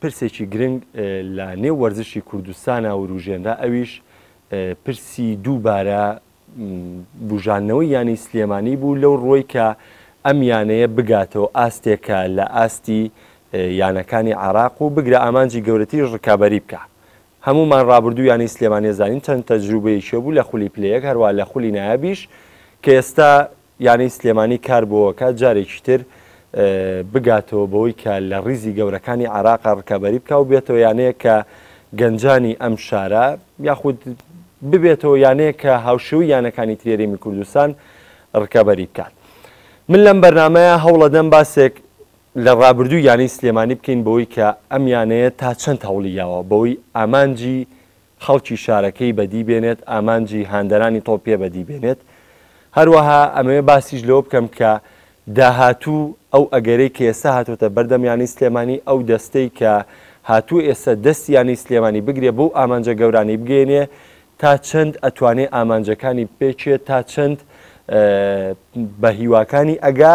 پرسێکی گرنگ لە نێو وەرزشی کوردستانا وروژێنرا ئەویش پرسی دووبارە بوژاندنەوەی یانەی سلێمانی بوو لەو ڕوەی کە ئەم یانەیە بگاتەوە ئاستێکە لە ئاستی یانەکانی عراق و بگرە ئامانجی گەورەتری ڕکابەری بکە هەموومان ڕابردوو یانەی سلێمانیە زانین چەند تەجروبەیەکی بوو لە خولی پلەیەک هەروا لە خولی نایابیش کە ئێستا یانەی سلێمانی کار بۆ ئەکات جارێکی تر بگاتەوە بەوەی کە لە ڕیزی گەورەکانی عێراقا ڕکابەری بکە و بێتەوە یانەیە کە گەنجانی ئەم شارە یاخود ببێتەوە یانەیە کە هاوشێوی یانەکانی ترێریمی کوردستان ڕکابەری بکات. من لەم بەرنمەیە هەوڵەدەم باسێک لە ڕابردوو یانەی سلێمانی بکەین بەوەی کە ئەم یانەیە تا چەند هەوڵی یاوە بەوەی ئامانجی خەڵکی شارەکەی بەدی بێنێت، ئامانجی هاندەرانی تۆ پێ بەدی بێنێت. هەروەها ئەمەوێ باسیش لەوە بکەم کە داهاتوو ئەو ئەگەرەی کە ئێستا هاتۆتە بەردەم یانەی سلێمانی، ئەو دەستەی کە هاتووە ئێستا دەستی یانەی سلێمانی بگرێ بەو ئامانجە گەورانەی بگەیەنێ تا چەند ئەتوانێ ئامانجەکانی بپێچێ تا چەند بە هیواکانی ئەگا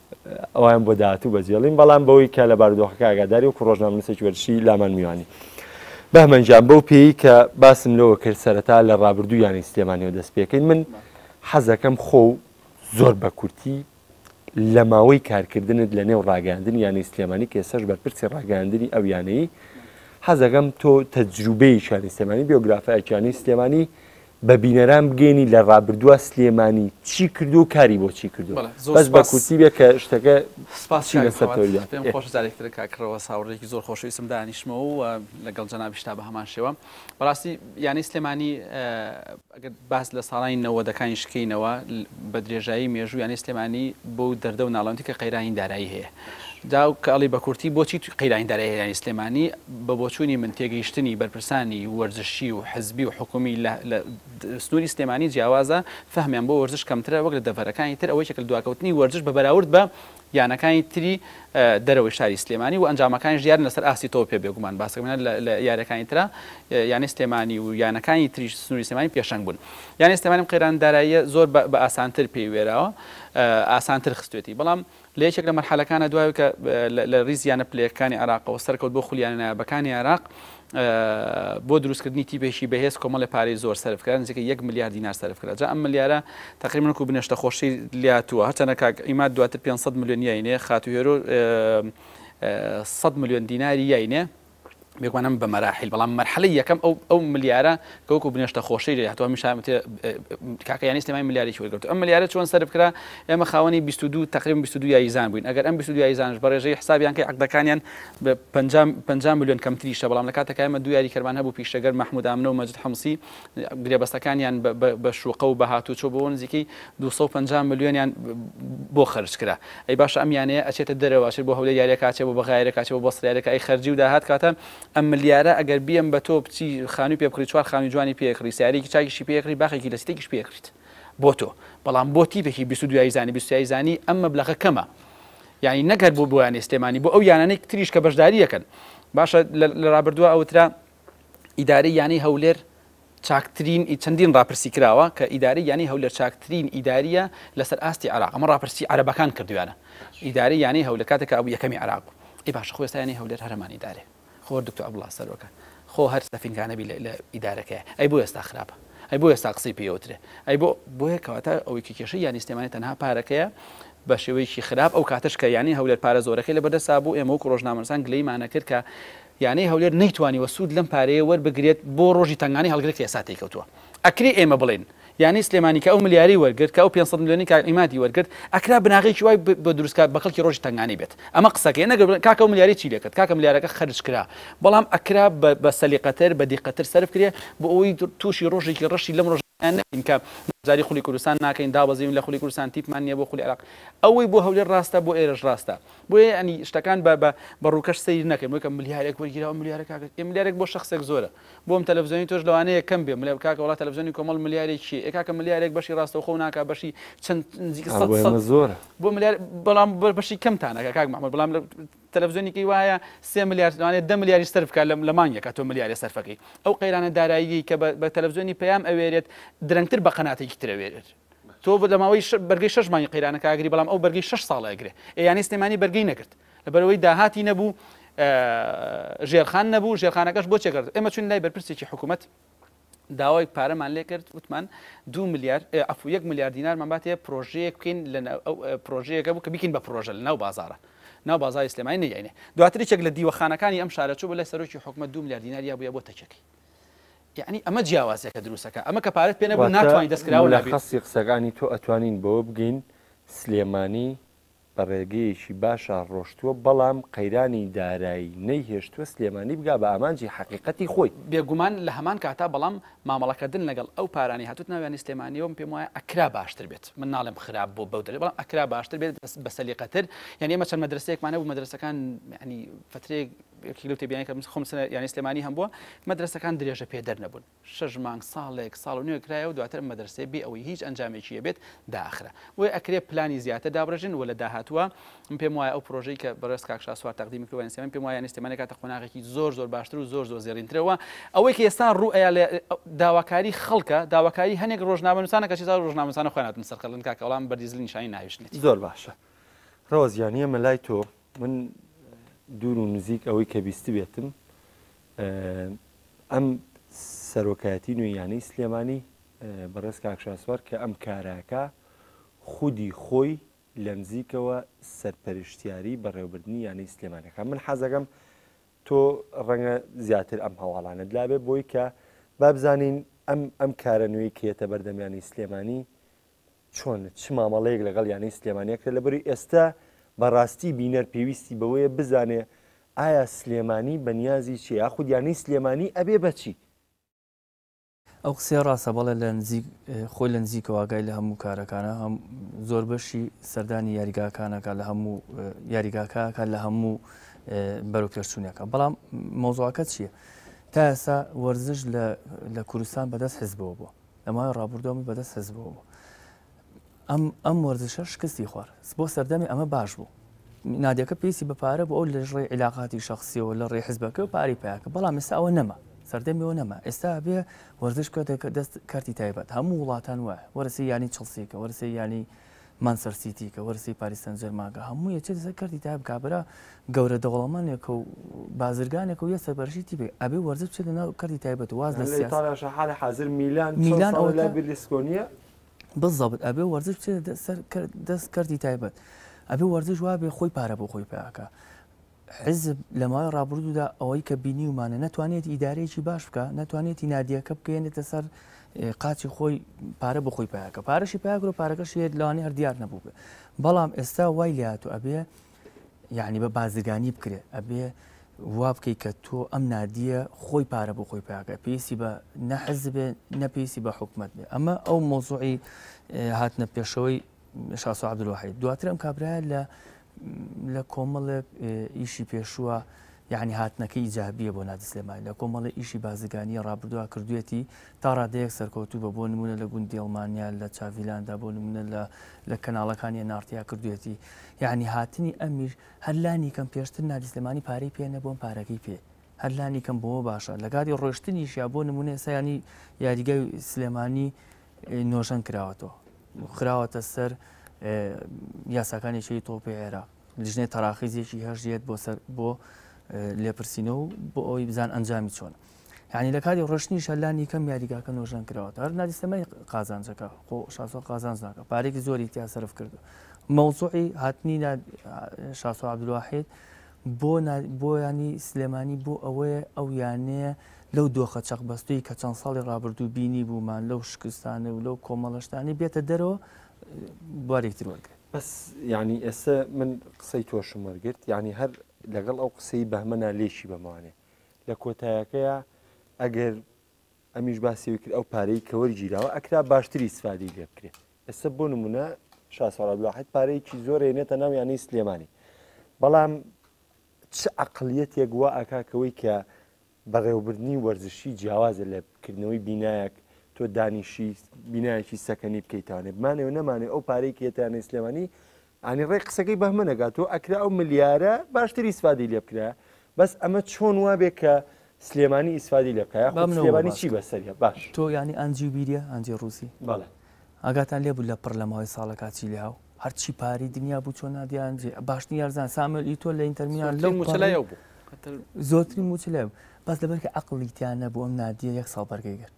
ئەوان بۆ داهاتوو بەجێڵین بەڵام بەوەی کە لە بارودۆخەکە ئاگاداری وەکو ڕۆژنامەنووسێکی وەرزشی لامان میوانی بەهمەنجان بەو پێی کە باسم لەوە کرد سەرەتا لە ڕابردوو یانی سلێمانیەوە دەست پێکەین من حەزەکەم خۆ و زۆر بە کورتی لە ماوەی کارکردنت لە نێو ڕاگەاندن یانی سلێمانی کێسەش بەرپرسی ڕاگەاندنی ئەو یانەی حەزەکەم تۆ تەجروبەیەکیانی سلێمانی بیۆگرافایکیانی سلێمانی بە بینەران بگەینی لە ڕابردووە سلێمانی چی کردوو کاری بۆ چی کردووە بەڵێ زۆر بەس بە سوپاس کورتی بێ کە شتەکە سوپاس چی کاک لەسەر فواد. تۆویدا پێم خۆشە جارێکی تر کاک ڕەوەز هاوڕێیەکی زۆر خۆشەویستم دانیشمەوە و لەگەڵ جەنابیشتا بە هەمان شێوە بەڕاستی یانەی سلێمانی اه، ئەگەر باس لە ساڵانی نەوەدەکانیش کەینەوە ل- بە درێژایی مێژوو یانەی سلێمانی بەو دەردە و ناڵەندی کە قەیرانی دارایی هەیە دا و کە ئەڵی بە کورتی بۆچی قەیرانی دارایی هەرێانی سلێمانی بە بۆچوونی من تێگەیشتنی بەرپرسانی وەرزشی و حزبی و حکومی لە لە سنووری سلێمانی جیاوازە فەهمیان بۆ وەرزش کەمترە وەک لە دەڤەرەکانی تر ئەوە یەکێکە لە دواکەوتنی وەرزش بە بەراورد بە یانەکانی تری دەرەوەی شاری سلێمانی و ئەنجامەکانیش دیارن لە سەر ئاستی تۆپێ بێگومان باسەکەم هێنا لە لە یاریەکانی ترا یانەی سلێمانی و یانەکانی تریش سنووری سلێمانی پێشەنگ بوون یانەی سلێمانی ئەم قەیران داراییە زۆر بە بە ئاسانتر پێی وێراوە ئاسانتر خستوێتی بەڵام لە یەکێک لە مەرحەلەکانە دوای ئەوەی کە لە ریز یانە پلەیەکەکانی عێراقەوە سەرکەوت بۆ خول یانە نایابەکانی عێراق بۆ دروستکردنی تیپێکی بەهێز کۆمەڵی پارەی زۆر سەرف کرا نزیکە یەک ملیار دینار سەرف کرا جا ئەم ملیارە تقریبا وەکو بنێشتە خۆشی لاتووە هەرچەندە کاک ئیماد دواتر 500 ملیۆن یاینێ خاتوو هێرۆ 100 ملیۆن دیناری یاینێ بێگومانم بە مەراحیل بەڵام مەرحەلەی یەکەم ئەو ئەو ملیارە کە وەکو بنێشتە خۆشی لێ هاتووە هەمیشە وتێ کاکە یانی سلێمانی ملیارێکی وەرگرتووە ئەم ملیارە چۆن سەرف کرا ئێمە خاوەنی 22 تقریبا 22 یاریزان بووین ئەگەر ئەم 22 یاریزانش بە ڕێژەی حسابیان کەی عەقدەکانیان بە 50 50 ملیۆن کەمتریشە بەڵام لە کاتێکە ئێمە دوو یاریکەرمان هەبوو پیشەگەر مەحموود ئامنە و مەجید حمسی گرێبەستەکانیان بە شوقە و بە هاتوچۆ بۆ نزیکەی دوو سەد و پەنجا ملیۆنیان بۆ خەرج کرا ئەی باشە ئەم یانەیە ئەچێتە دەرەوە ئەچێت بۆ هەولێر یاریەکە ئەچێت بۆ بەغایرەکە ئەچێت بۆ بەسڕیارەکە ئەی خەرجی و داهات کاتە ئەم ملیارە ئەگەر بیەم بە تۆ بچی خانووی پێ بکڕی چوار خانووی جوانی پێ کڕی سیارەیەکی چاکیشی پێ کڕی باخێکی لە سیتێکیش پێ کڕیت بۆ تۆ بەڵام بۆ تیپێکی بیست و دوو یاریزانی بیست و سێ یاریزانی ئەم مەبلەغە کەمە یانی نەک هەر بۆ بۆ یانەی سلێمانی بۆ ئەو یانانەی تریش کە بەشدارییەکەن باشە لە رابردووە ئەوترا ئیدارەی یانەی هەولێر چاکترین ئی چەندین ڕاپرسی کراوە کە ئیدارەی یانەی هەولێر چاکترین ئیدارییە لەسەر ئاستی عێراق ئەمە ڕاپرسی عەرەبەکان کردویانە ئیدارەی یانەی هەولێر کاتێک کە بوو یەکەمی عێراق بوو ئی باشە خۆ ئێستا یانەی هەولێر هەر هەمان ئیدارەیە خۆ دکتۆر عەبدوڵڵا سەرۆکە خۆ هەر سەفینکانە بی لە ئیدارەکەیە ئەی بۆ ئێستا خراپە ئەی بۆ ئێستا قسەی پێ ئەوترێ ئەی بۆ بۆیە کەواتە ئەوەی کە کێشەی یانەی سلێمانی تەنها پارەکەیە بە شێوەیەکی خراپ ئەو کاتەش کە یانەی هەولێر پارە زۆرەکەی لەبەردەستا بوو ئێمە وەکوو ڕۆژنامەنووسان گلەیمانە کرد کە یانەی هەولێر نەیتوانیوە سوود لەم پارەیە وەربگرێت بۆ رۆژی تەنگانەی هەڵگرێک کە ئێستا تێیکەوتووە ئەکرێ ئێمە بڵێین یانەی سلێمانی کە ئەو ملیاری وەرگرت کە ئەو پێنج سەد ملیۆنەی کاک عیمادی وەرگرت ئەکرا بناغەیەکی وای بۆ دروستکات بە کەڵکی رۆژی تەنگانەی بێت ئەمە قسەکەیە نەگەر بڵێن کاکە ئەو ملیاری چی لێکرد کاکە ملیارەکە خەرج کرا بەڵام ئەکرا بە سەلیقەتر بە دیقەتتر سەرفکرێ بۆ ئەوەی تووشی رۆژێکی رەشی لەم رۆژانە نەبین کە بەشداری خولی کوردستان ناکەین دابەزین لە خولی کوردستان تیپمان نییە بۆ خولی عێراق ئەوەی بۆ هەولێر راستە بۆ ئێرەش راستە بۆیە یەعنی شتەکان بە بە بە ڕووکەش سەیر نەکەین بۆیکە ملیارێک وەرگیراوە ملیارە کاکە ئێ ملیارێک بۆ شەخسێک زۆرە بۆ ئەم تەلەفزیۆنی تۆش لەوانەیە کەم بێ ملیار کاکە وەڵا تەلەفزیۆنی کۆمەڵ ملیارێک چیە ئێ کاکە ملیارێک بەشی ڕاستەوخۆ ناکا بەشی چەند نزیکە سەد سەد ئەوە زۆرە بۆ ملیار بەڵام بە بەشی کەمتان ناکا کاک مەحموود بەڵام لە تەلەفزیۆنێکی وایە سێ ملیار لەوانەیە دە ملیاریش سەرف بکات لە لە مانگێکا تۆ ملیارێ سەرفەکەی ئەو قەیرانە داراییەی کە بە بە تەلەفزیۆنی پەیام ئەوێرێت درەنگتر بە قەناتێکی تر ئەوێرێت تۆ لە ماوەی بەرگەی شەش مانگی قەیرانەکە ئاگری بەڵام ئەو بەرگەی شەش ساڵە ئەگرێ ئێ یانی سلێمانی بەرگەی نەگرت لەبەرەوەی داهاتی نەبوو ژێرخان نەبوو ژێرخانەکەش بۆ چێکرد ئێمە چون لای بەرپرسێکی حکوومەت داوای پارەمان لێ کرد وتمان دو ملیار ئەفو یەک ملیار دینارمان باتێ پرۆژەیەک بکەین لە پرۆژەیەەکە بوو کە بکەین بە پرۆژە لە ناو بازارە ناو بازاری سلێمانی نەیانێ دواتریچێک لە دیوەخانەکانی ئەم شارەچوو بە لای سەرۆکی حکومە دو ملیار دیناریا بووە بۆ تەچەکەی یەعنی ئەمە جیاوازیە کە دروستەکا ئەمە کە پارەت پێ نەبوو واتە ناتوانی دەست کراوە لابی. مولەخەسی قسەکانی تۆ ئەتوانین بەوە بگەین سلێمانی بە ڕێگەیەکی باشا ڕۆشتووە بەڵام قەیرانی دارایی نەیهێشتووە سلێمانی بگا بە ئامانجی حەقیقەتی خۆی. بێگومان لە هەمان کاتا بەڵام مامەڵەکردن لەگەڵ ئەو پارانەی هاتووتە ناویانی سلێمانیەوە من پێم وایە ئەکرا باشتر بێت من ناڵێم خراپ بۆ بەو دەلیل بەڵام ئەکرا باشتر بێت بەسەلیقەتر یەعنی ئێمە چەند مەدرەسەیەکمان هەبوو مەدرەسەکان یەعنی فترەیەک یەکێک لەو تێبینیانەی کە خۆم سنە یانی سلێمانی هەم بووە مەدرەسەکان درێژە پێدەر نەبوون شەش مانگ ساڵێک ساڵ و نوێ کرایەوە دواتر مەدرسەیە بێ ئەوەی هیچ ئەنجامێکی هەبێت داخرا بۆیە ئەکرێ پلانی زیاتر دابڕێژن و لە داهاتووە من پێم وایە ئەو پرۆژەی کە بەڕێز کاک شاسوار تەقدیمی کردوە یانی سلێمانی پێم وایە یانی سلێمانی کاتە قۆناغێکی زۆر زۆر باشتر و زۆر زۆر زێڕینترەوە ئەوەی کە ئێستا ڕوو ئەیا لە داواکاری خەڵکە داواکاری هەنێک ڕۆژنامەنووسانە کە چیزا ڕۆژنامەنووسانە خۆیان هاتن سەرقەڵن کاکە وەڵام بەردیزلین شاین ناویشنێت زۆر باشە ڕەوەز یانی ئێمە لای تۆ من دوور و نزیک ئەوەی کە بیستبێتم ئەم سەرۆکایەتی نوێ یانەی سلێمانی بەڕێز کاکشاسوار کە ئەم کاراکە خودی خۆی لە نزیکەوە سەرپەرشتیاری بەڕێوبردننی یانەی سلێمانەکە من حەزەکەم تۆ ڕەنگە زیاتر ئەم هەواڵانت لابێ بۆی کە بابزانین ئەم ئەم کارە نوێی کێتە بەردەمیانی سلێمانی چۆن چ مامەڵەیەک لەگەڵ یانەی سلێمانی ئەکرێت لەبەروی ئێستا بەڕاستی بینەر پێویستی بەوەیە بزانێ ئایا سلێمانی بەنیازی چیە یاخود یانەی سلێمانی ئەبێ بەچی؟ ئەو قسەیە ڕاستە بەڵێ لە نزیک خۆی لە نزیکەوە ئاگای لە هەموو کارەکانە هەم زۆر بەشی سەردانی یاریگاکانەکە لە هەموو یاریگاکەکە لە هەموو بەرو پێشچوونەکە بەڵام مۆزواکە چییە؟ تا ئێستا وەرزش لە کوردستان بەدەست حزبەوە بووە لە ماوەی ڕابوردوە من بەدەست حزبەوە بوو ئەم ئەم وەرزشە شکستی خوارد بۆ سەردەمی ئەمە باش بوو نادەکە پێویستی بە پارە بۆ ئەو لە ڕێ عیلاقاتی شخصیەوە لە ڕێ حزبەکە و پارەی پیاکە بەڵام ئێستا ئەوە نەما سەردەمیەوە نەما ئێستا بێ وەرزش کە دەکە دەست کارتی تایبەت هەموو وڵاتان وایە وەرسی ینی چڵسیکە وەرسی ینی مانچستەر سیتی کە وەرسی پاریس سان جێرمان کە هەموو یەکێ دەسە کەرتی تای بکا برا گەورە دەوڵەمەنێکە و بازرگانێکە و یە سەرپەرشی تی بێ ئەبێ وەرزە بچێ لە ناو کەرتی تایبەت و واز لە سیاسی یعنی لە ئیتاڵیاشە حالی حازر میلان چەن میلان ساڵە لای ئەوەتە بیرلیسکۆنیە بالضبط ئەبێ وەرزش بچێ دە سەر کەر دەس کەرتی تایبەت ئەبێ وەرزش وابێ خۆی پارە بۆ خۆی پیاکا حیزب لە ماوەی ڕابردوودا ئەوەی کە بینیومانە نەتوانێت ئیدارەیەکی باش بکە ناتوانێتی نادیەکە بکەێنێتە سەر قاچی خۆی پارە بخۆی پیاکە پارەشی پیاگرۆ پارەکەشی هێت لەوانی هەر دیار نەبوو بێ بەڵام ئێستا وای لات و ئەبێ یعنی بە بازرگانی بکرێ ئەبێ وا بکەیت کە تۆ ئەم نادیە خۆی پارە بۆ خۆی پاکە پێویستی بە نەحز بێ نەپێویستی بە حکومت بێ ئەمە ئەو مۆزوعی هاتنە پێشەوەی شاسۆ عبدالوحید دواتر ئەم کابرایە لە لە کۆمەڵێک ئیشی پێشووە یعنی هاتنەکە ئیجابیە بۆ نادسلێمای لە کۆمەڵی ئیشی بازرگانیە ڕابردووە کردوێتی تا ڕادەیەک سەرکەوتوو بە بۆ نمونە لە گوندی ئەڵمانیا لە چاڤیلاندا بۆ نمونە لە لە کەناڵەکانی نارتیا کردوێتی یعنی هاتنی ئەمیر هەرلانی کەم پێشتر نادسلێمانی پارەی پێ نەبووم پارەکەی پێ هەرلانی کەم بۆ باشە لەگاری ڕۆشتنیش یا بۆ نمونە سایانی یاریگای سلێمانی نۆژەن کراوەتەوە و خراوەتە سەر یاساکانی چی تۆپی عێراق لیژنەی تەراخیزێکی هەژێت بۆ سەر بۆ لێپرسینە و بۆ ئەوی بزان ئەنجامی چۆن یعنی لە کاری ڕشتنی شەلانی کەم یاریگاکە نۆژەن کراوە هەر نادیستەمای قازانجەکە خۆ شاسۆ قازانج ناکە پارێکی زۆری تیا سرف کردو مەوزوعی هاتنی شاسۆ عبدواحید بۆ نا بۆ یانی سلێمانی بۆ ئەوەیە ئەو یانەیە لەو دۆخە چەقبەستووی کە چەند ساڵی ڕابردوو بینی بوومان لەو شکستانە و لەو کۆمەڵە شتانەی بێتە دەرەوە بوارێکی تر وەرگێ. بەس یعنی ئێستا من قسەی تۆشم وەرگرت یعنی هەر لەگەڵ ئەو قسەی بەهمەنا لێکی بەمانێ لە کۆتایەکەیە ئەگەر ئەمیش باسی ئەوەی کرد ئەو پارەی کە وەرگیراوە ئەکرا باشتری ئیسفادەی لێ بکرێ ئێستا بۆ نمونە شا سۆرا عەبدولواحید پارەیەکی زۆر هێنێتە ناو یانەی سلێمانی بەڵام چ عەقڵیەتێک وا ئاکا کەوەی کە بەڕێوەبردنی وەرزشی جیاوازە لە کردنەوەی بینایەک تۆ دانیشی بینایەکی سەکەنی بکەیتانێ بمانێ و نەمانێ ئەو پارەی کێتیانەی سلێمانی ئانی ڕێک قسەکەی بەهمە نەگا تۆ ئەکرا ئەو ملیارە باشتر ئیسفادەی لێ بکرایە بەس ئەمە چۆن وابێ کە سلێمانی ئیسفادەی لێ بکا یاخود بامنەوە سلێمانی باس چی کە بەسەریە باش تۆ یانی ئانجی بیریە ئانجی ڕووسی بەڵێ ئاگاتان لێ بوو لە پڕ لە ماوەی ساڵەکا چی لێهاو هەرچی پارەی دنیا بوو چۆ نادی ئانجی باشترین یارزان ساموێل ئیتۆ لە ئینتەر میلان زۆرترین لەو موچە لای پەڕی ئەو بوو کە تر زۆرترین موچە لای بوو بەس لەبەر کە عەقڵی تیا نەبوو ئەم نادیە یەک ساڵ بەرگەی گرت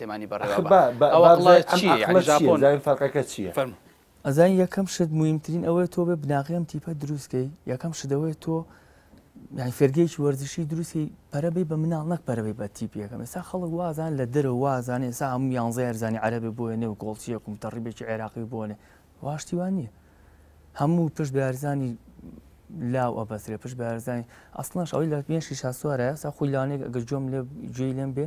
پێمانی بەڕێوە ئەخە با با ئەوە بابزانین ئەقڵە ئەم چیە یانی ئەقڵە چیە ژاپۆن بزانین فەرقەکە چیە فەرموو. ئەزانی یەکەم شت مویمترین ئەوەیە تۆ بێ بناغەی ئەم تیپە دروست کەی یەکەم شت ئەوەیە تۆ یانی فێرگەیەکی وەرزشی دروست کەی پەرە بەی بە مناڵ نەک پەرە بەی بە تیپی یەکەم ئێستا خەڵک وا ئەزانن لە دەرەوە وا ئەزانن ئێستا هەموو یانزەی ئەرزانی عەرەبێ بۆیە نێو گۆڵچییەک و متەڕیبێکی عێراقی بۆ نێ وا شتی وا نییە هەموو پشت بە یارزانی لاو ئەبەسرێ پشت بە یارزانی ئەسڵەنش ئەوەی لە مێشی شاسوارە ئێستا خۆی لانێک ئەگەر گوێم لێ گوێی لێم بێ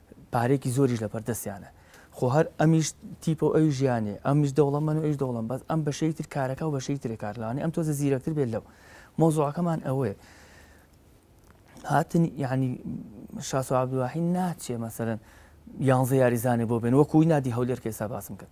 پارەیەکی زۆریش لەبەر دەستیانە خۆ هەر ئەمیش تیپە و ئەویش یانێ ئەمیش دەوڵەمەن و ئەویش دەوڵەمەن بەس ئەم بەشەی تر کارەکە و بەشەی ترێ کار لەوانەیە ئەم تۆزە زیرەکتر بێت لەو مەوزوعەکەمان ئەوەیە هاتن یعنی شاسو عبدواحی ناچێ مەسەرەن یانزە یاریزانێ بۆ بێن وەکوی نادی هەولێر کە ئێستا باسم کرد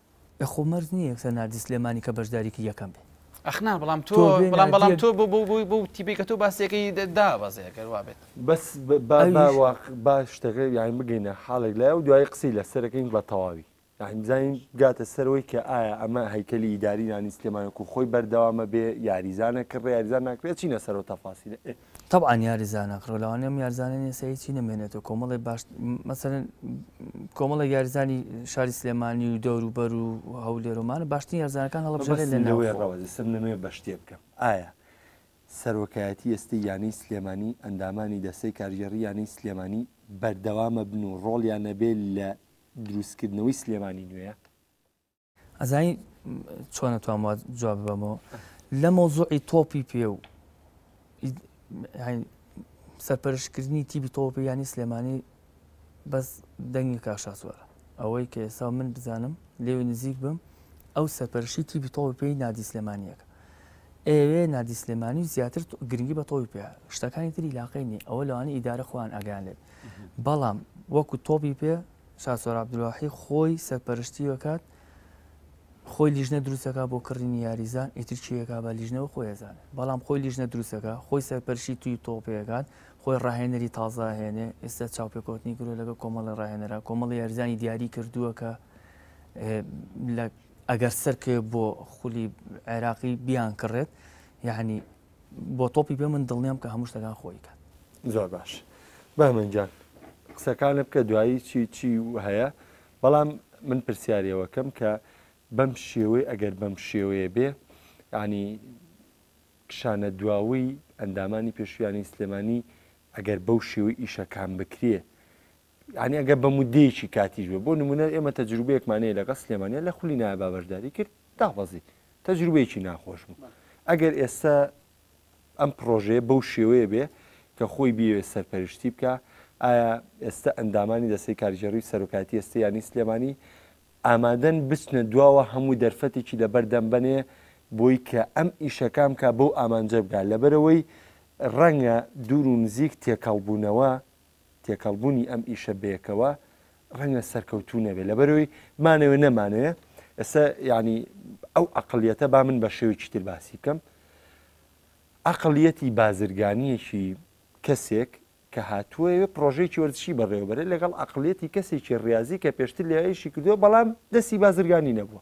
ئەخۆ مەرج نیە یەکسەر ناردی سلێمانی کە بەشداریکی یەکەم بێ. ئەخ نا بەڵام تۆ بەڵام بەڵام تۆ بۆ بۆ بۆی بۆ تیپی کە تۆ باسیەکەی دابەزێ ئەگەر وابێت بەس با با واق با شتەکە یانی بگەینە حاڵێک لای و دوایی قسەی لەسەرەکەین بە تەواوی یانی بزانین بگاتە سەرەوەی کە ئایا ئەمە هەیکەلی ئیداری نانی سلێمانەکو خۆی بەردەوامە بێ یاریزانە کڕێ یاریزان ناکرێ ئەچینە سەرەوە تەفاسیلە ئێ تەبعەن یاریزانە قڕەلاوانەی ئەم یاریزانە نیە سەیر چی نەمێنێتەوە کۆمەڵێ باش مەسەرەن کۆمەڵێک یاریزانی شاری سلێمانی و دەور و بەر و هەولێرۆمانە باشترین یارزانەکان هەڵبژێرێت لە نەوەی ڕەوە دەسم نەمەوێ بە شتێ بکەم ئایا سەرۆکایەتی ئێستەی یانەی سلێمانی ئەندامانی دەستەی کارگێڕی یانەی سلێمانی بەردەوامە بن و ڕۆڵیان نەبێ لە دروستکردنەوەی سلێمانی نوێیە؟ ئەزانی چۆن ئەتوام وا جواب بەمەوە لە مەوزوعی تۆپی پێ و سەرپەرشکردنی تیبی تۆپی ینی سلێمانی بەس دەنگی کاشاسوارە ئەوەی کە ئێستا من بزانم لێو نزیک بم ئەو سەرپەرشی تیبی تۆپی پێی نادی سلێمانیەکە ئێوێ نادی سلێمانی و زیاتر گرنگی بە تۆی پێ شتەکانی تری لاقی نیە ئەوە لەوانی ئیدارە خۆیان ئەگەیان لێت بەڵام وەکو تۆپی پێ شاسوار عەبدولواحی خۆی سەرپەرشتی ئەکات خۆی لیژنە دروستەکە بۆ کڕینی یاریزان ئیتر چیەکە بە لیژنەوە خۆی ئەزانێ بەڵام خۆی لیژنە دروستەکە خۆی سەرپەرشی توی تۆپێکات خۆی ڕاهێنەری تازاهێنێ ئێستا چاوپێکوتنی گرۆ لەگە کۆمەڵی ڕاهێنەرە کۆمەڵی یاریزانی دیاری کردووە کە ئەگەر سەرکێ بۆ خولی عێراقی بیان کڕێت یعنی بۆ تۆپی پێ من دڵنیام کە هەموو شتەکان خۆی کات زۆر باش بەمەنجان قسەکانە بکە دوایی چی چی هەیە بەڵام من پرسیارەوەکەم کە بەم شێوەی ئەگەر بەم شێوەیە بێ ینی کشانە دواوی ئەندامانی پێشویانی سلێمانی ئەگەر بەو شێوەی ئیشەکان بکرێ یانی ئەگەر بە مودەیەکی کاتیش بێ بۆ نمونە ئێمە تەجروبەیەکمان هەیە لەگەڵ سلێمانە لە خولی نایە بابەشداری کرد دابەزی تەجروبەیەکی ناخۆش بوو ئەگەر ئێستا ئەم پرۆژەیە بەو شێوەیە بێ کە خۆی بێوێ سەرپەرشتی بکە ئایا ئێستا ئەندامانی دەستی کارگێڕی سەرۆکاتی ئێستا یانی سلێمانی ئامادەن بچنە دواوە هەموو دەرفەتێکی لەبەردەم بنێ بۆی کە ئەم ئیشەکان کا بەو ئامانجە بگا لەبەرەوەی ڕەنگە دوور و نزیک تێکەڵبوونەوە تێکەڵبوونی ئەم ئیشە بەیەکەوە ڕەنگە سەرکەوتوو نەبێت لەبەرەوەی مانەوە نەمانەیە ئێستا ینی ئەو ئەقلیەتە با من بە شێوێکی تر باسی بکەم ئەقلیەتی بازرگانیەکی کەسێک کە هاتووەوێ پرۆژێکی وەرزشی بەڕێوەبەرە لەگەڵ ئەقلێتی کەسێکی ڕاضی کە پێشتر لەیشی کردووە بەڵام دەستی بازرگانی نەبووە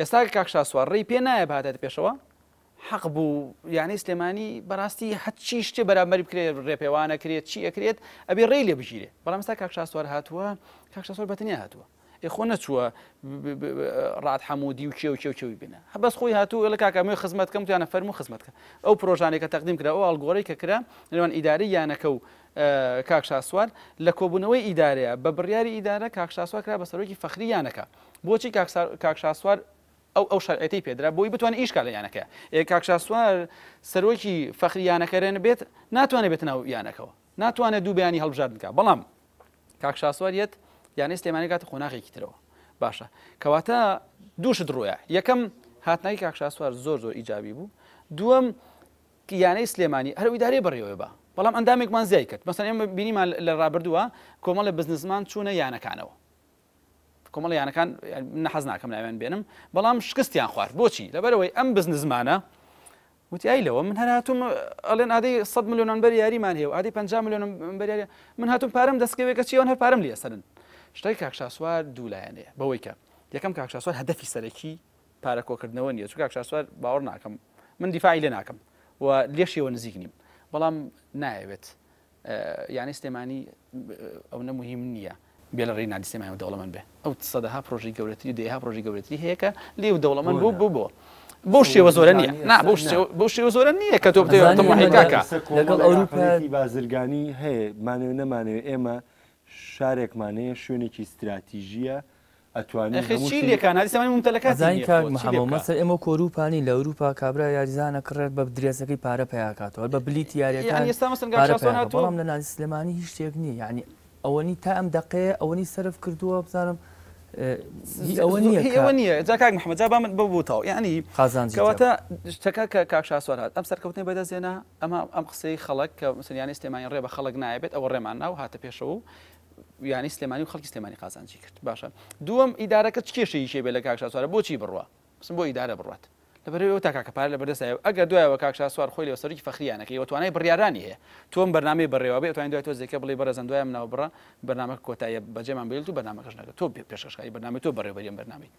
ئێستا کاک شاسوار ڕێی پێ نایە بهاتێتە پێشەوە حەق بوو یانەی سلێمانی بەڕاستی هەرچی شتێ بەرامبەری بکرێت ڕێپێوانە کرێت چی ئەکرێت ئەبێ ڕێی لێ بگیرێ بەڵامستا کاک شاسوار هاتووە کاک شاسوار بەتنیا هاتووە خۆ نەچووە ڕات حەمودی و کێو کێو کێوی بینە هەبەس خۆی هاتوو لە کاکەمێ خزمەت کەم توانە فەرم و خزمەتکە ئەو پرۆژانێکە تەقدیم کرا ئەو ئاڵگۆڕی کە کرا لەوان ئیداری یانەکە و کاک شاسوار لە کۆبوونەوەی ئیدارەیە بە بڕیاری ئیدارە کاک شاسوار کرا بە سەرۆکی فەخری یانەکە بۆچی کاک سا کاک شاسوار ئەو ئەو شەرعێتەی پێدرا بۆی بتوانێت ئیش کا لە یانەکە ئێ کاک شاسوار سەرۆکی فەخری یانەکەرێن بێت ناتوانێت بێت ناو یانەکەەوە ناتوانێت دوو بیانی هەڵبژارد بکە بەڵام کاک شاسوار یەت یانەی سلێمانی کاتە قۆناغێکی ترەوە باشە کەواتە دووشت ڕوە یەکەم هاتنای کاک شاسوار زۆر زۆر ئیجابی بوو دووەم یانەی سلێمانی هەر ئیدارێ بڕیەوە بە بەڵام ئەندامێکمان زیای کرد مەسەن ئێمە بینیمان لە ڕابردووە کۆمەڵە بزنزمان چوونە یانەکانەوە کۆمەڵە یانەکان من حەز ناکەم ناویان بێنم بەڵام شکستیان خوارد بۆچی لەبەرەوەی ئەم بزنزمانە وتی ئای لەوە من هەر هاتووم ئەڵێن ئادەی 100 ملیۆنان بەر یاریمان هەیە و ئادەی 50 ملیۆن بەریاری من هاتووم پارەم دەستکەوێکە چیەوەن هەر پارەم لێ سەرن شتای کاکشاسوار دوو لایەنەیە بەوەی کە یەکەم کاکشاسوار هەدەفی سەرەکی پارە کۆکردنەوە نیە چون کاکشاسوار باوەڕ ناکەم من دیفاعی لێ ناکەم و لێشیەوە نزیک نیم بەڵام نایەوێت یانەی سلێمانی ئەونە موهیم نیە بێلە ری نادی سلێمانی و دەوڵەمەند بێ ئەو سەدەها پرۆژەی گەورەتری و دەیەها پرۆژەی گەورەتری هەیە کە لێ و دەوڵەمەند بوو بوو بۆ بەو شێوە زۆرە نیە نا بەو شێوە- بەو شێوە زۆرە نیە کە تۆ بتێ بەزانین تەماحی ئێمە کاکە لەسەر لەگەڵ کۆمەڵێک ئەوروپا- ئاقڵێتی بازرگانی هەیە مانەوێ نەمانەوێ ئێمە شارێکمان هەیە شوێنێکی ستراتیژیە ئەتوانی هەموو شتی لێ کان هەرسەمای مومتەلەکاتی نیە ئەزانی کاک محمد مەسەر ئێمە کۆروپا نی لە ئەوروپا کابرا یاریزانە کڕێت بە درێسەکەی پارە پیا کاتەوە هەر بە بلیتی یاریەکان ئێستا مەسەن پارە پیا کات بەڵام لە نادی سلێمانی هیچ شتێک نیە یعنی ئەوەنی تا ئەم دەقەیە ئەوەنی سەرف کردووە بزانم هی ئەوە نیە هی ئەوە نیە جا کاک محمد جا با من بەو بوتەوە یعنی قازانجی کەواتە شتەکە کە کاک شاسوار هات ئەم سەرکەوتنەی بەدەست هێنا ئەمە ئەم قسەی خەڵک کە مسەن یانی سلێمانی ڕێ بە خەڵک نایە بێت ئەوە ڕێمان نا و هاتە پێشەوە و یانی سلێمانی و خەڵکی سلێمانی قازانجی کرد باشە دووەم ئیدارەکە چ کێشەی شێ بێ لە کاک شاسوارە بۆچی بڕوا بسم بۆ ئیدارە بڕات لەبەرەوە تا کاکە پار لە بەردەستایە ئەگەر دوایەوە کاک شاسوار خۆی لە سەرکی فەخریانەکەی وە توانای بڕیارانی هەیە تۆم بەرنامەی بەڕێوە بێ توانین دوای تۆ زێکە بڵی بەڕێزم دوای منەوە بڕە بەرنامە کۆتایە بەجێمان بێت و بەرنامەکەش نەکە تۆ پێشکەشکاری بەرنامەی تۆ بەڕێوبەریم بەرنامەی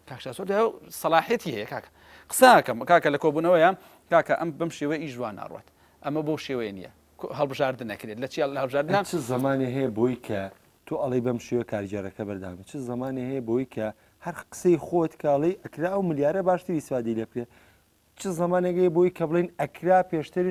کاک شاسوار دوای سەلاحێتی هەیە کاکە قساکەم کاکە لە کۆبوونەوەیە کاکە ئەم بەم شێوەی ئیش جوان ناڕوات ئەمە بۆ شێوەیە نییە هەڵبژاردن ئەکرێت لە چیا لە هەڵبژاردن ئەی چ زمانێ هەیە بۆی کە تۆ ئەڵی بەم شێوە کارگێڕەکە بەردەامە چ زمانێ هەیە بۆی کە هەر قسەی خۆت کاڵی ئەکرا و ملیارە باشتر ئیسفادی لێ بکرێت چ زمانێگەی بۆی کە بڵین ئەکرا پێشتر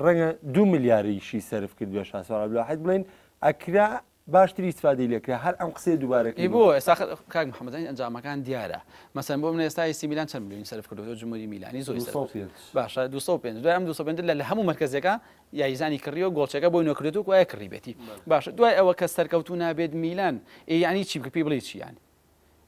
ڕەنگە دو ملیاریشی سرف کرد بێ شاسۆ عبدالواحد بڵین ئەکرا باشتری استفادەی لێ کرا هەر ئەم قسەیە دووبارە کەی بۆ؟ ئێستا کاک محمد ئەین ئەنجامەکان دیارە مەسەن بۆ منە ئێستا ئەی سی میلان چەند ملیۆنی سەرف کردوە جموری میلانی زۆری سەرف دوو سەد و پێنج باشە دوو سەد و پێنج دوای ئەم دوو سەد و پێنج لە هەموو مەرکەزەکە یاریزانی کڕیوە گۆڵچەکە بۆی نۆ کردوە گوایە کڕیبێتی باشە دوای ئەوە کە سەرکەوتوو نابێت میلان ئێ یانی چی بکە پێی بڵێی چی یانی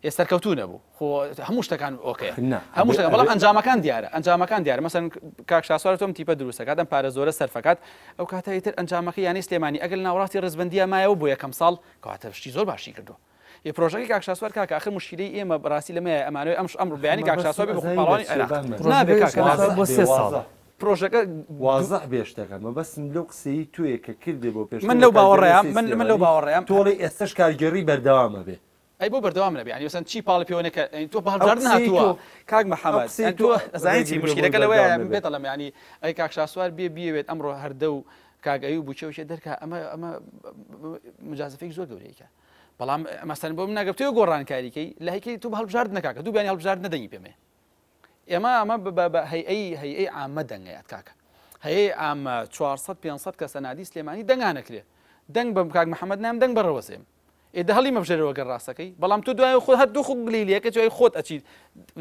ی سەرکەوتوو نەبوو خۆ هەموو شتەکان ئۆکەیە هەموو شتەکان بەڵام ئەنجامەکان دیارە ئەنجامەکان دیارە مەسەن کاک شاسوار تۆم تیپە دروستەکات ئەم پارە زۆرە سەرفەکات ئەو کاتە ئیتر ئەنجامەکە یانەی سلێمانی ئەگەر ناوەڕاستی ڕیزبەندیە مایەوە بۆ یەکەم ساڵ کەواتە شتی زۆر باشی کردووە ی پرۆژەکەی کاک شاسوار کاکە ئاخر موشکیلەی ئێمە بەڕاستی لەمەیە ئەمانەوێ ئەم ئەمڕۆ بەیانی کاک شاسوار بێ بە خۆ پاڵەوانی عێراق نابێ کاکە بۆ سێ ساڵ پرۆژەکە وازح بێ شتەکە مەبەستم لەو قسەیی تۆیە کە کردێ بۆ پێشتر من لەو باوەڕەیام من من لەو باوەڕەیام تۆ ئەڵێی ئێستەش کارگێڕی بەردەوام ئەبێ ئەی بۆ بەردەوام نەبێ یانی مەسەلەن چی پاڵی پێوە نەکە یانی تۆ بەهەڵبژاردن هاتووە کاک محەممەد قسەی تۆ ئەزانی چی موشکیلەکە لەوەیە من پێت دەڵێم یانی ئەی کاک شاسوار بێ بیەوێت ئەمڕۆ هەردە و کاک ئەیوب و چەوشێ دەرکا ئەمە ئەمە مجازفێک زۆر گەورەیەکە بەڵام مەسەن بۆ من ناگەفتەوە گۆڕانکاریکەی لایکەی تو هەڵبژارد نکاکە دوو بیانی هەڵبژارد نەدەنگی پێمێ ئێمە ئەمە بە بە هەیئەی هەیئەی عامە دەنگەیات کاکە هەیەی ئامە 400 500 کەسە نادی سلێمانی دەنگانەکرێ دەنگ بەم کاک محەممەد نام دەنگ بەڕەوەزێم ئێدە هەڵی مەبژێرەوە گەر ڕاستەکەی بەڵام تۆ دوای خۆ هەر دوو خۆک بلی لەکە جوای خۆت ئەچیت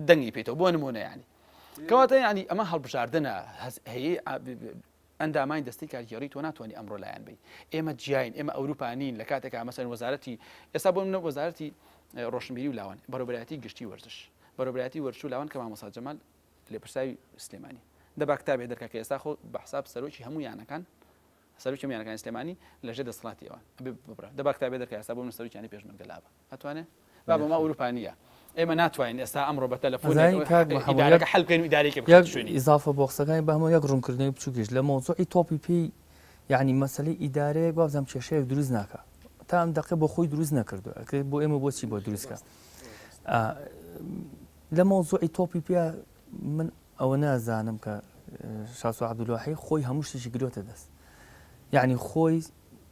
دەنگی پێیتەوە بۆ نمونە ینی کەواتە ینی ئەمە هەڵبژاردنە هەیە ئەندامانی دەستەی کارگێڕی تۆ ناتوانی ئەمڕۆ لایان بەی ئێمە جیاین ئێمە ئەوروپا نین لە کاتێکا مەسەن وەزارەتی ئێستا بۆ منە وەزارەتی ڕۆشنبیری و لاوان بەرەبرایەتی گشتی وەرزش بەرەبرایەتی وەرش و لاوان کە مامۆسا جەمال لێپرساوی سلێمانی دەبا کتابێ دەرکە کە ئێستا خۆ بە حساب سەرۆکی هەموو یانەکان سەرۆکی هەموو یانەکانی سلێمانی لەژێر دەسەڵاتی ئەوان ئەبێ ببرا دەبا کتابێ دەرکە ئێستا بۆ من سەرۆکیانی پێشمەرگە لابە ئەتوانێ؟ بابە مە ئەوروپا نیە ئێمە ناتوانین ئێستا ئەمڕۆ بە تەلەفۆن ئیدارەکە حەل بکەین و ئیدارەیەکی بخەینە شوێنی. ئیزافە بۆ قسەکانی بەهمە یەک ڕوونکردنەوەی بچووکیش لە مەوزوعی تۆپی پێی یانی مەسەلەی ئیدارەیەک وابزانم کێشەیەک دروست ناکا تا ئەم دەقێ بۆ خۆی دروست نەکردو ئەکرێت بۆ ئێمە بۆچی بۆ دروستکە لە مەوزوعی تۆپی پێ من ئەوە نازانم کە شاسو عبدلوحی خۆی هەموو شتێکی گرۆتە دەست یعنی خۆی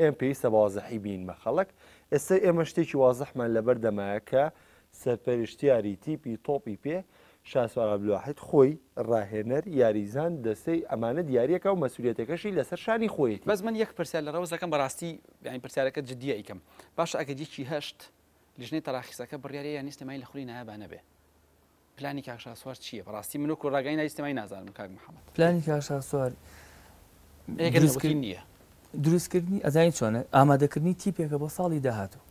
ئێمە پێویستە بەوازحی بینمە خەڵک، ئێستا ئێمە شتێکی وازحمان لەبەر دەمایە کە سەرپەرشتیاری تیپی تۆپی پێ شاسوار عەبدولواحید خۆی، راهێنەر، یاریزان، دەستەی، ئەمانە دیاریەکە و مەسولیەتەکەشی لەسەر شانی خۆیەتی. بەس من یەک پرسیار لە رەوز ئەکەم بەراستی یانی پرسیارەکەت جدیە ئەیکەم باشە ئەگەر یەکی هەشت لیژنەی تەراخیسەکە بریاریان نیە سلێمانی لە خولی نایابانە بێ؟ پلانی کاک شاسوار چیە بەڕاستی من وەکو ڕاگەی نای سنەمای نازانم کاک محمد. پلانی کاک شاسوار دروستکردنی ئەزانی چۆنە ئامادەکردنی تیپێکە بۆ ساڵی داهاتوو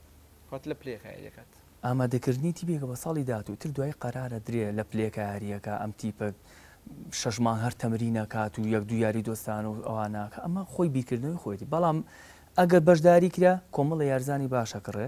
وات لە پلەی کایە دەکات. ئامادەکردنی تیپێکە بۆ ساڵی داهاتوو تر دوای قەرارە درێ لە پلەی کایاریەکە ئەم تیپە شەش مانگ هەر تەمرینە کات و یەک دوو یاری دۆستانە و ئەوانە کە ئەمە خۆی بیرکردنەوەی خۆیەتی بەڵام ئەگەر بەشداری کرا کۆمەڵە یارزانی باشەکڕێ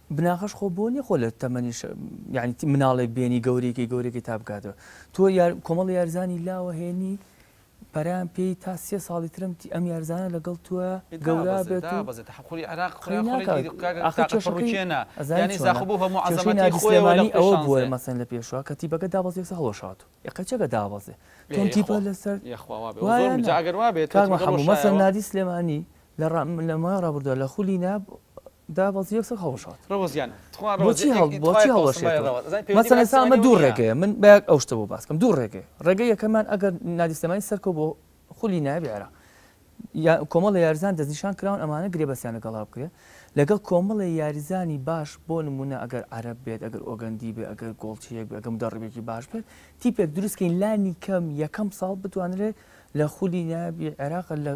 بناغەش خۆ بۆ نیە خۆ لە تەمەنی شە یانی تی مناڵێک بێنی گەورەیکەی گەورەکەی تا بکاتەوە تۆ یار کۆمەڵی یارزانی لاوە هێنی پەرەیان پێی تا سێ ساڵی ترم تی ئەم یارزانە لەگەڵ توە گەورا بێت و قەی ناکات ئاخر کێشەکەی ئەزانی چۆنە کێشەی نادی سلێمانی ئەوە بووە مەسەن لە پێشوە کە تیپەکە دابەزی یەکسەر هەڵوەشاتوو یەقەچەکە دابەزێ تۆم تیپە لەسەر وایە کاک مەحموو مەسەن نادی سلێمانی لە مای ڕابردووە لە خولی ناب دابەزی یەکسەر هەڵوەشاوە بۆچی هەڵوەشێتەوە مەسەن ئێستا ئەمە دوو ڕێگەیە من بە ئەو شتە بۆ باس بکەم دوو ڕێگەیە ڕێگەی یەکەمان ئەگەر نادی سلێمانی سەرکەوت بۆ خولی نایابی عێراق کۆمەڵێ یاریزان دەستنیشان کراون ئەمانە گرێبەستیان لەگەڵا بکرێت لەگەڵ کۆمەڵێ یاریزانی باش بۆ نموونە ئەگەر عەرەب بێت ئەگەر ئۆگەندی بێت ئەگەر گۆڵچیەک بێت ئەگەر مدەڕبێکی باش بێت تیپێک دروستکەین لانی کەم یەکەم ساڵ بتوانرێت لە خولی نابی عێراق لە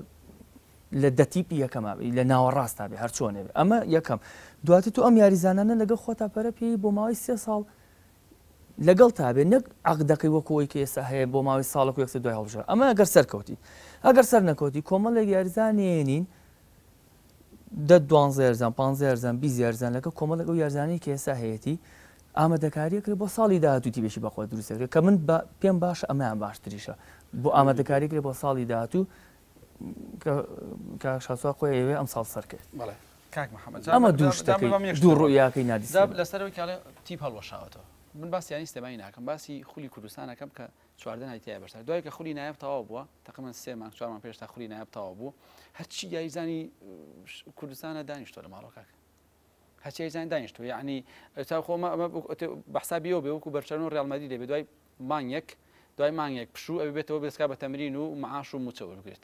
لە دەتیپی یەکەما لە ناوەڕاستا بێ هەرچۆنێ ئەمە یەکەم دواتر تو ئەم یاریزانانە لەگە خۆتا پەرە پێی بۆ ماوەی سێ ساڵ لەگەڵتا بێت نەک عەقدەکەی وەکو ئەوەی کە ئێستا هەیە بۆ ماوەی ساڵێک و یەکتر دوای هەڵبژێرن ئەمە گەر سەرکەوتی ئەگەر سەر نەکەوتی کۆمەڵێک یاریزان نێنین دە دوانزە یاریزان پانزە یاریزان بیست یاریزان لەگەڵ کۆمەڵێک ئەو یاریزانانی کە ئێستا هەیەتی ئامادەکارییە کرێ بۆ ساڵی داهاتوو تیپێکی بەخۆ دروستە کرێ کە من پێم باشە ئەمەیان باشتریشە بۆ ئامادەکاری کرێ بۆ ساڵی داهاتوو کە شاسوا خۆی ئەوێ ئەم ساڵ سەرکرد بەڵێ کاک محمد جا ئەمە دوو شتەکەی جا بەم یەک دوو شتەوە. ڕوئیاکەی نادی جا سلێمانی. لەسەر ئەوەی کە ئەڵێ تیپ هەڵوەشاوەتەوە من باسی یانەی سلێمانی ناکەم باسی خولی کوردستان ئەکەم کە چواردە ناوی تیایە بەشدار دوای کە خولی نایاب تەواو بووە تەقریبەن سێ مانگ چوار مانگ پێش تا خولی نایاب تەواو بوو هەرچی یاریزانی اه، کوردستانە دانیشتووە لە ماڵەوە کاکە هەرچی یاریزان دانیشتووە یعنی تا خۆ ما ما بە حسابی ئەوە بێ وەکو بەرشەلۆنە و ڕیال مەدرید دەبێ دوای مانگێک دوای مانگێک پشوو ئەوێ بێتەوە بێسکا بە تەمرین و معاش و موچە وەربگرێت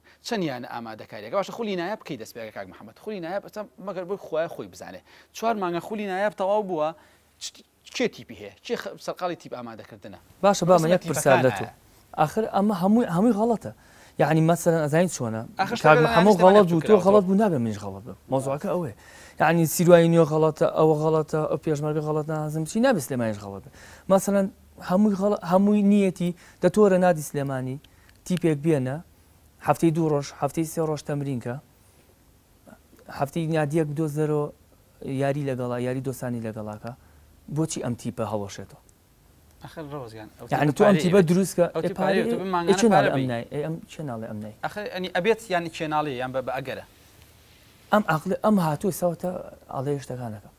چەن یانە ئامادەکاریەکە باشە خولی نایاب کەی دەست پێەکە کاک محمد خولی نایاب ئەچە مەگەر بۆی خوایە خۆی بزانێ چوار مانگە خولی نایاب تەواو بووە کێ تیپی هەیە کێ سەرقاڵی تیپ ئامادەکردنە باشە بامە یەک پرسیار لە تۆ ئاخر ئەمە هەمووی هەمووی غەڵەتە یعنی مەسەرەن ئەزانین چۆنە کاک محمد غەڵەت بوو تۆ غەڵەت بوو نابێ منیش غەڵەت بم مەوزوعەکە ئەوەیە یعنی سیروای نوێ غەڵەتە ئەوە غەڵەتە ئەو پێشمەرگە غەڵەت نازم چی نابێ سلێمانیش غەڵەت بێ مەسەرەن هەمووی غەڵەت هەمووی نیەتی دە تۆرە نادی سلێمانی تیپێک بێنە هەفتەی دوو ڕۆژ هەفتەی سێ ڕۆژ تەمرینکە هەفتەی نادیەک بدۆزەرۆ یاری لەگەڵا یاری دۆسانی لەگەڵاکە بۆچی ئەم تیپە هەڵۆشێتەوە ئەخر ڕۆز گیان ئەو یعنی تۆ ئەم تیپە پارەیە. دروستکە ئەو ئێ تیپە پارەیە، تۆ بە مانگانە ئێ چی پارە ناڵێ ئەم بی. نای ئێ ئەم چی ناڵێ ئەم نای ئەخر ئەنی ئەبێت یانی چێناڵی یان بە بە ئەگەرە. ئەم عەقڵی ئەم هاتووە ساوتە ئاڵێ شتەکانەکە.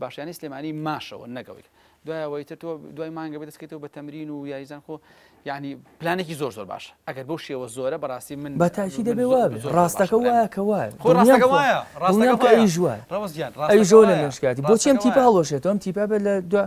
باش یانی سلێمانی ماشەوە نەگەوەیکە دوای ئەوەی تر تۆ دوای مانگە بە دەستکەیتەوە بە تەمرین و یاریزان خۆ یعنی پلانێکی زۆر زۆر باش ئەگەر بۆ شێوە زۆرە بەڕاستی من بە تاکی دەبێ وابێ ڕاستەکە وایە کە وایە ڕاستەکە ئەی ژوە ئەی ژۆ لە مێشکاتی بۆچێم تیپە هەڵۆشێتەوەم تیپە بێت لە دو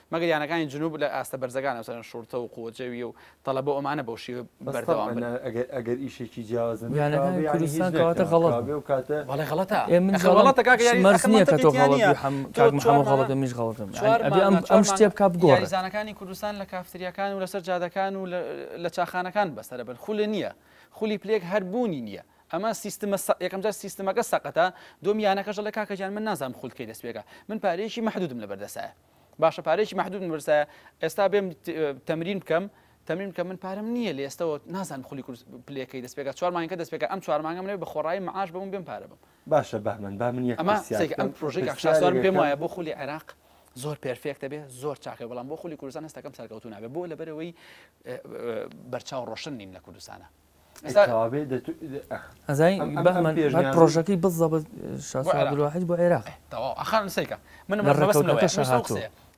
مەگەر یانەکانی جنوب لە ئاستە بەرزەکانە مەسەلەن شورتە و قوە جەویە و تەڵەبە و ئەمانە بەو شێوە بەردەوام بن. بەس تەبعەن ئەگەر ئیشێکی جیاواز نەبێت یانەکانی کوردستان کەواتە غەڵەت بوو. کاوە بێ ئەو کاتە. وەڵای غەڵەتە. ئێ من ئەخر غەڵەتە کاکە یاری ئەخر مەنتقی تیانە. ئەخر مەنتقی تیانە. تۆ غەڵەت بی حەم کاک محمد غەڵەتە منیش غەڵەتم. چوار مانگە چوار مانگە ئەبێ ئەم شتە بکا بگۆڕێ. یاریزانەکانی کوردستان لە کافتریاکان و لەسەر جادەکان و لە چاخانەکان بەسەرە بن خولە نیە. خولی پلەیەک هەر بوونی نیە. ئەمە سیستمە سە یەکەم جار سیستمەکە سەقەتە دووەم یانەکەش دەڵێ کاکە گیان من نازانم خول کەی دەست پێکا من پارەیەکی مەحدودم لەبەردەستایە. باشە پارەیەکی مەحدودم بەرسایە ئێستا بێم تەمرین بکەم تەمرین کە من پارەم نییە لە ئێستەوە نازان خولی کورس پلەکەی دەست پێکا چوار مانگەکە دەست پێکا ئەم چوار مانگە منێ بە خۆڕایی معاش بەم بێم پارە بم باشە بەهمەن با من یەک ئەمە پرسیار سێک ئەم بکەم پرۆژەی کاک شاسوار پرسیارێک پێم یەکەم وایە بۆ خولی عێراق زۆر پێرفێکتە بێ زۆر چاکە بەڵام بۆ خولی کوردستان هەستەکەم سەرکەوتوو نابێ بۆ لەبەرەوەی اه، اه، بەرچاو ڕۆشن نین لە کوردستانە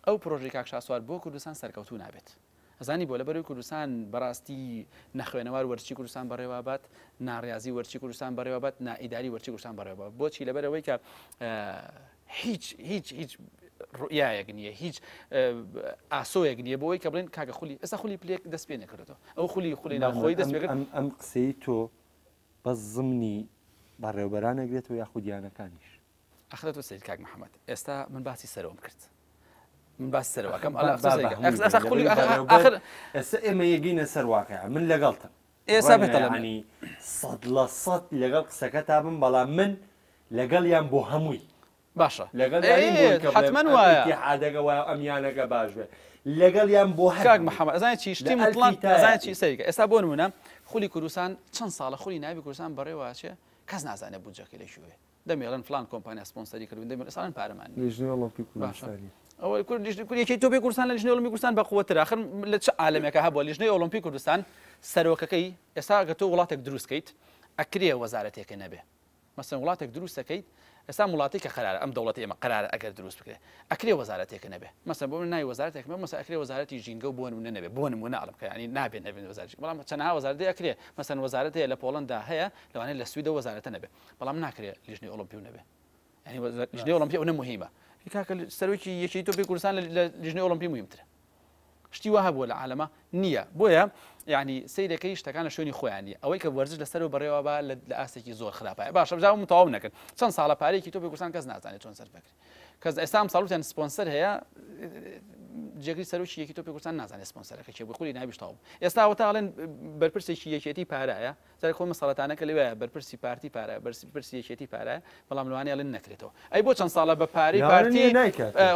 ئەو پرۆژەی کاک شاسوار بۆ کوردستان سەرکەوتوو نابێت ئەزانی بۆ لە بەروی کوردستان بەڕاستی نەخوێنەوار وەرچی کوردستان بەڕێوابات ناڕازی وەرچی کوردستان بەڕێوابات نائیداری وەرچی کوردستان بەڕێوە بۆچی لەبەرەوەی کە هیچ هیچ هیچ ڕوئایەک نییە هیچ ئاسۆیەک نییە بۆی کە بڵێن کاکە خولی ئەسا خولی پلێک دەست پێ نەکردەوە ئەو خولی خولی ناوخۆی دەست ئەم ئەم قسەی تۆ بە زمنی بەڕێوبەرانێک بێت و یاخودیانەکانیش ئەخرە تۆ سید کاک محەممەد ئێستا من باسی سەرۆم کرد من باس سەرەکەم ئەخر ئێمە یەگەینە سەر واقع من لەگەڵتم ڕەنگە یەعنی سەد لە سەد لەگەڵ قسەکەتا بم بەڵام من لەگەڵیام بۆ هەمووی باشە لەگەڵیا نیم بۆی کە بڵێم ئەم ئیتیحادەگە وایە و ئەم یانەگە باش بێ لەگەڵیام بۆ هەر کاک محمد ئەزانی چی شتی موتڵەق ئەزانی چی سەیرکە ئێستا بۆ نموونە خولی کوردستان چەند ساڵە خولی ناوی کوردستان بەڕێوە ئەچێ کەس نازانێ بودجەکەی لە کوێیە دەمیڵێن فڵان کۆمپانیا سپۆنسەری کردوون دەمیڵێن ئێستا ئەڵێن پارەمان نییە لیژنەی ئۆڵۆمپی باشە کوردستانی ئەوەی کورد لیژنەی کورد یەکێتی تۆپی کوردستان لە لیژنەی ئۆڵۆمپی کوردستان بەقوەترە ئاخر لە چ عالەمێکا هەبووە لیژنەی ئۆڵۆمپی کوردستان سەرۆکەکەی ئێستا گەر تۆ وڵاتێک دروست کەیت ئەکرێ وەزارەتێکە نەبێ مەسەن وڵاتێک دروست دەکەیت ئێستا وڵاتێک کە قەرارە ئەم دەوڵەتە ئێمە قەرارە ئەگەر دروست بکرێ ئەکرێ وەزارەتێکە نەبێ مەسەن بۆ من ناوی وەزارەتێک مە مەسە ئەکرێ وەزارەتی ژینگە و بۆ نمونە نەبێ بۆ نمونە ئەڵم کە یانی نابێ نەبێ وەزارەتی بەڵام چەنەها وەزارەت ئەکرێ مەسەن وەزارەتێ لە پۆڵەندا هەیە لەوانەیە لە سویدە وەزارەتە نەبێ بەڵام ناکرێت لیژنەی ئۆڵۆمپیو نەبێت یعنی لیژنەی ئۆڵۆمپی ئەوەنە مهمە کاکە سەرۆکی یەکێتی تۆپی کوردستان لە لیژنەی ئۆڵۆمپی مهمترە شتی وە هەبووە لە عالەمە نییە بۆیە یعنی سیرەکەی شتەکان لە شوێنی خۆیانی ئەوەی کە وەرزش لەسەر و بەڕێوە بە لە ئاستێکی زۆر خراپە باشە بزاوم تەواو نەکرد چەند ساڵە پارێکی تۆپی کوردستان کەس نازانێت چۆن سەر بکرێت کەس ئێستا ساڵوتیان سپۆنسەر هەیە جێگری سەرۆکی یەکی تۆپی کوردستان نازانێت سپۆنسەرەکە چێ بخوری ناویشتاوم ئێستا وتاڵێن بەرپرسێکی یەکێتی پارایە جارێ خۆی مەسەڵەتانە کە لەوێ بەرپرسی پارتی پارە بەرپرسی یەکێتی پارە بەڵام لەوانە ئەڵێن نەکرێتەوە ئەی بۆ چەند ساڵە بە پارەی پارتی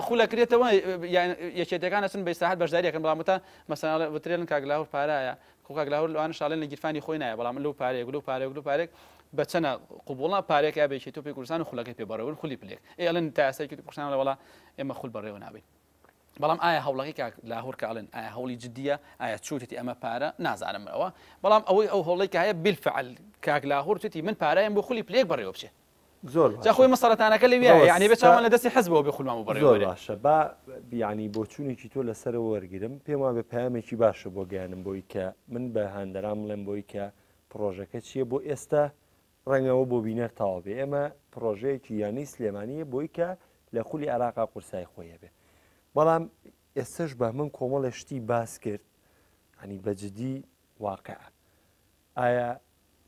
خولە کرێتەوە یان یەکێتەکان ئەچن بە ئیسراحەت بەشداری ئەکەن بەڵام وتان مەسەڵە وترێن کاک لاهور پارایە خۆ کاک لاهور لەوانە شاڵێن لە گیرفانی خۆی نایە بەڵام لەو پارەیەک لەو پارەیەک لەو پارێک بە چەنە قوبوڵە پارێک ئابێکی تۆپی کوردستان و خولەکەی پێ بەڕێون خولی پلێک ئێ ئەڵێن تا ئێستا یەکێتی کوردستان لە وڵا ئێمە خول بەڕێوە نابین بەڵام ئایا هەوڵەکەی کاک لاهور کە ئەڵێن ئایا هەوڵی جدیە ئایا چوتتی ئەمە پارە نازانم ئەوە بەڵام ئەوەی ئەو هەوڵی کە هەیە بالفعل کاک لاهور توتی من پارایم بۆ خولی پلێک بەڕێوە بچێ زۆر باشە. جا خۆی مە سەرەتانەکە لەوێ ڕەوە یعنی بێ چاوان ستا- لە دەستی حزبەوە بێ خولمان بۆ بەڕێوە زۆر بەرێ باشە با بیانی بۆچوونێکی تۆ لەسەرەوە وەرگرم پێم وابێ پامێکی باشە بۆ گەیانم بۆی کە من بە هاندەران بڵێم بۆی کە پڕۆژەکە چییە بۆ ئێستا ڕەنگە ئەوە بۆ بینەر تەواو بێ ئێمە پڕۆژەیەکی یانەی سلێمانیە بۆی کە لە خولی عێراقا قورسای خۆی هەبێ بەڵام ئێستش بەهمن کۆمەڵە شتی باس کرد هەنی بەجددی واقع ئایا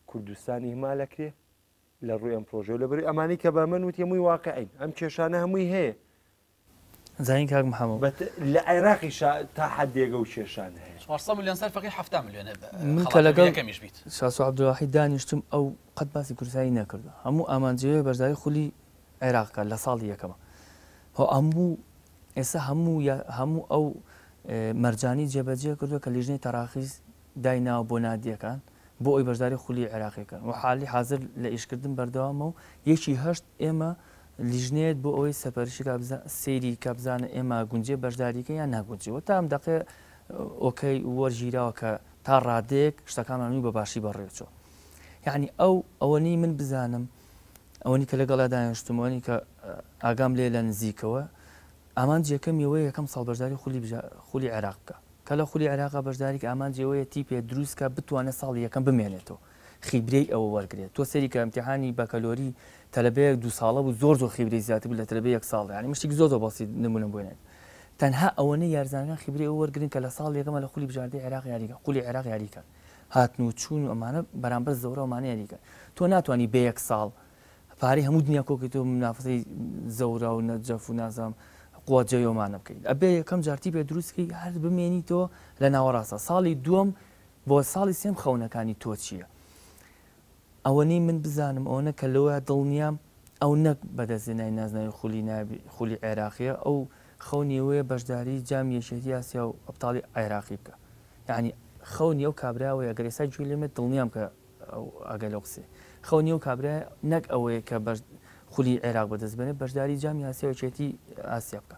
کوردستانی هەمالەکرێ لە ڕووی ئەم پرۆژەوە لە بەری ئەمانی کە بە من وتێمووی واقعین ئەم کێشانە هەمووی هەیە زانین کاک محمد. بە لە عێراقیشا تا حەدێک ئەو کێشانە هەیە. چوار سەد ملیۆن سەر فەقیر حەفتا ملیۆن هەیە من کە لەگەڵ یەکەمیش بیت. شاسوار عەبدولواحید دانیشتم ئەو قەت باسی کوردستانی نەکردووە هەموو ئامانجی ئەوەیە بەشداری خولی عێراق بکات لە ساڵی یەکەما هۆ هەموو ئێستا هەموو هەموو ئەو مەرجانی جێبەجێ کردووە کە لیژنەی تەراخیس دایناوە بۆ نادیەکان بۆ ئەوی بەشداری خولی عێراقی بکەن و حالی حازر لە ئیشکردن بەردەوامە و یەکی هەشت ئێمە لیژنەیەت بۆ ئەوەی سەپەرشی کا بزا سەیری کا بزانە ئێمە گونجێ بەشداریکە یان ناگونجێ وە تا ئەم دەقەیە ئۆکەی وەرگیراوە کە تا ڕادەیەک شتەکانمان وی بە باشی بەڕێوچۆ یعنی ئەو ئەوەنی من بزانم ئەوەنی کە لەگەڵا دانیشتم ئەوەنی کە ئاگام لێ لە نزیکەوە ئامانج یەکەم یەوەیە یەکەم ساڵ بەشداری خولی بژا خولی عێراق بکە کە لە خولی عێراقا بەشداریکە ئامانج یەوەیە تیپێ دروستکە بتوانێت ساڵی یەکەم بمێنێتەوە خیبرەی ئەوە وەرگرێت تۆ سەیری کە امتحانی بەکەلۆری تەلەبەیەک دوو ساڵە بوو زۆر زۆر خیبرەی زیاتر بوو لە تەلەبەی یەک ساڵ یانی من شتێکی زۆر زۆر بەسیت نموونەم بۆ نەبێت تەنها ئەوەنەی یارزانەکان خیبرەی ئەوە وەرگرن کە لە ساڵ یەکەمە لە خولی بژاردەی عێراق یاریکە خولی عێراق یاریکە هاتن و چوون و ئەمانە بەرامبەر زەورا ئەمانە یاریکە تۆ ناتوانانی بە یەک ساڵ پارەی هەموو دنیا کۆکیت و منافەسەی زەورا و نەجەف و نازام قوە جەیۆمانە بکەیت ئەبێ یەکەم جار تیپێ دروستکەی هەر بمێنیتەوە لە ناوەڕاستە ساڵی دووەم بۆ ساڵی سێم خەونەکانی تۆ چیە؟ ئەوەنەی من بزانم ئەوەنە کە لەوە دڵنیام ئەو نەک بەدەست هێنای نازناوی خولی نایابی خولی عێراقیە ئەو خەونی ئەوەیە بەشداری جامی یەکێتی ئاسیا و ئەبتاڵی عێراقی بکە یانی خەونی ئەو کابرا ئەوەیە گەر ئێستا گوێ لێمێت دڵنیام کە ئاگای لەو قسەیە خەونی ئەو کابرا نەک ئەوەیە کە بەش خولی عێراق بەدەست بێنێت بەشداری جامی ئاسیا و یەکێتی ئاسیا بکە.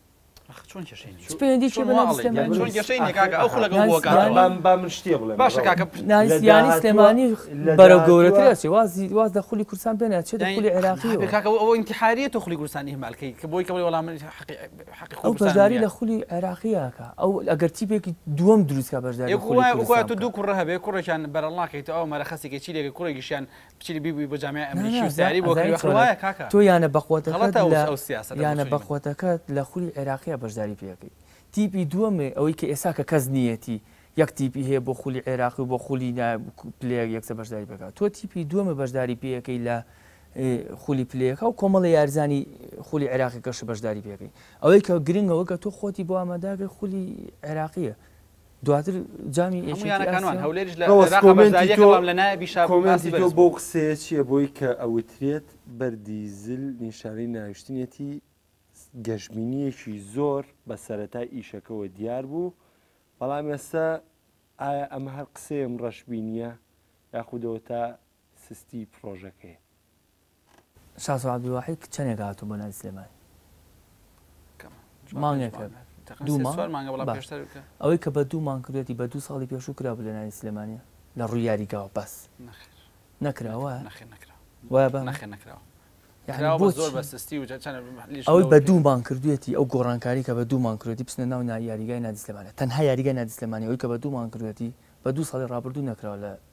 سلێمانی بەرە گەورەترسی وازی واز لە خولی کوردستان بێنە چێت خولی عێراقیحاریە تۆ خولی کوردستانی هەمالکەی کە بۆی کەڵی وەڵام ئەو بەشداری لە خولی عێراقیەکە ئەو ئەگەر تیپێکی دووەم دروستکە بەشداری دوو کوڕە هەبێ کوڕێکیان بەرەڵناکەیت ئەو مەرەخەسێکی چی لێک کوڕێکیشیان بچیت بیبوی بۆ جامی ئەمریکی و سیاری بۆ کردی ئەخر وایە کاکە تۆ یانە بەقوەتەکەت لە غەڵەتە ئەو سیاسەتە بۆ یانە چونی بوو بەقوەتەکەت لە خولی عێراقیە بەشداری پێ ئەکەی تیپی دووەمێ ئەوەی کە ئێستا کە کەس نیەتی یەک تیپی هەیە بۆ خولی عێراقی و بۆ خولی نا پلەیەک یەکسە بەشداری پێ ئەکا تۆ تیپی دووەمێ بەشداری پێ ئەکەی لە ی خولی پلەیەکا و کۆمەڵێ یاریزانی خولی عێراقیەکەش بەشداری پێ ئەکەی ئەوەی کە گرنگە ئەوەی کە تۆ خۆتی بۆ ئامادە ئەکەی خولی عێراقیە دواتر جامی یەکێتی ئاسیا. هەموو یانەکانوان، هەولێریش لە عێراق بەشدارییەکە بەڵام لە نایابی شابوو باسی بەرز بوو. کۆمێنتی تۆ بەو قسەیە چییە بۆی کە ئەوترێت بەردی زل نیشانەی ناویشتنیەتی گەشبینییەکی زۆر بە سەرەتای ئیشەکەوە دیار بوو بەڵام ئێستا ئایا ئەمە هەر قسەیەم ڕەشبینییە یاخودەوە تا سستی پڕۆژەکەیە. شاسوار عەبدولواحید کچ چەنێک هاتوو بۆ ناوی سلێمانی؟ مانگێک هەبێ دوو مانگ ئەوەی کە بە دوو مانگ کردوێتی بە دوو ساڵی پێشوو کرا بوو لە ناوی سلێمانیە لە ڕووی یاریگاوە بەس نەکرا وایە وایە بە نەخێ نەکراوە ئەوەی بە دوو مانگ کردوێتی ئەو گۆڕانکاری کە بە دوو مانگ کردی بچنە ناو یاریگای نادیسلێمانە تەنها یاریگای نادیسلێمانی ئەوەی کە بە دوو مانگ کردوێتی بە دوو ساڵی ڕابردوو نەکراوە لە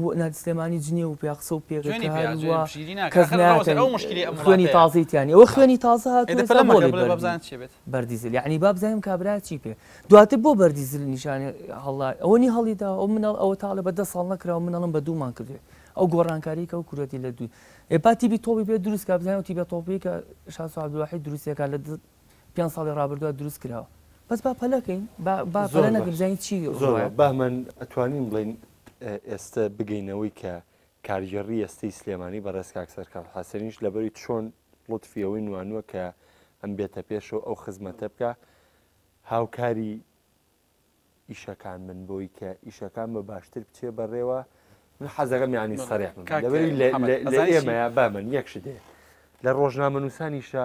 بۆ نادی سلێمانی جنێو و پیاخسە و پێکە کە هەر وا کەس ناکەن خوێنی تازەی تیانی ئەوە خوێنی تازە هاتووە بەردیزل یعنی بابزانم کابرا چی پێ دواتر بۆ بەردیزل نیشانە هەڵا ئەوە نی هەڵیدا ئەو منەڵ ئەوە تاڵە بە دە ساڵ نەکرا و منەڵم بە دوومان کردێت ئەو گۆڕانکاریکە و کوورەتی لە دووی ئێپا تیبی تۆپی پێ دروستکە بزانانی تیبە تۆپیکە شاسوعبدوواحی دروستەکە لە پێنج ساڵی ڕابردووە دروست کراوە بەس با پەلەکەین با پەلە نەکەین بزانین چی زۆر بەمن ئەتوانین بڵین ئێستا بگەینەوەی کە کارگێڕی ئێستەی سلێمانی بە ڕێزکاک سەرکار حەسەنیش لەبەری چۆن لطفیەوەی نوانوە کە ئەم بێتە پێشەوە ئەو خزمەتە بکە هاوکاری ئیشەکان من بۆی کە ئیشەکان بە باشتر بچێ بەڕێوە من حەزەکەم ینی سەرێک لەبەری لە ئێمەیە بامن یەکش دێ لە ڕۆژنامە نووسانیشە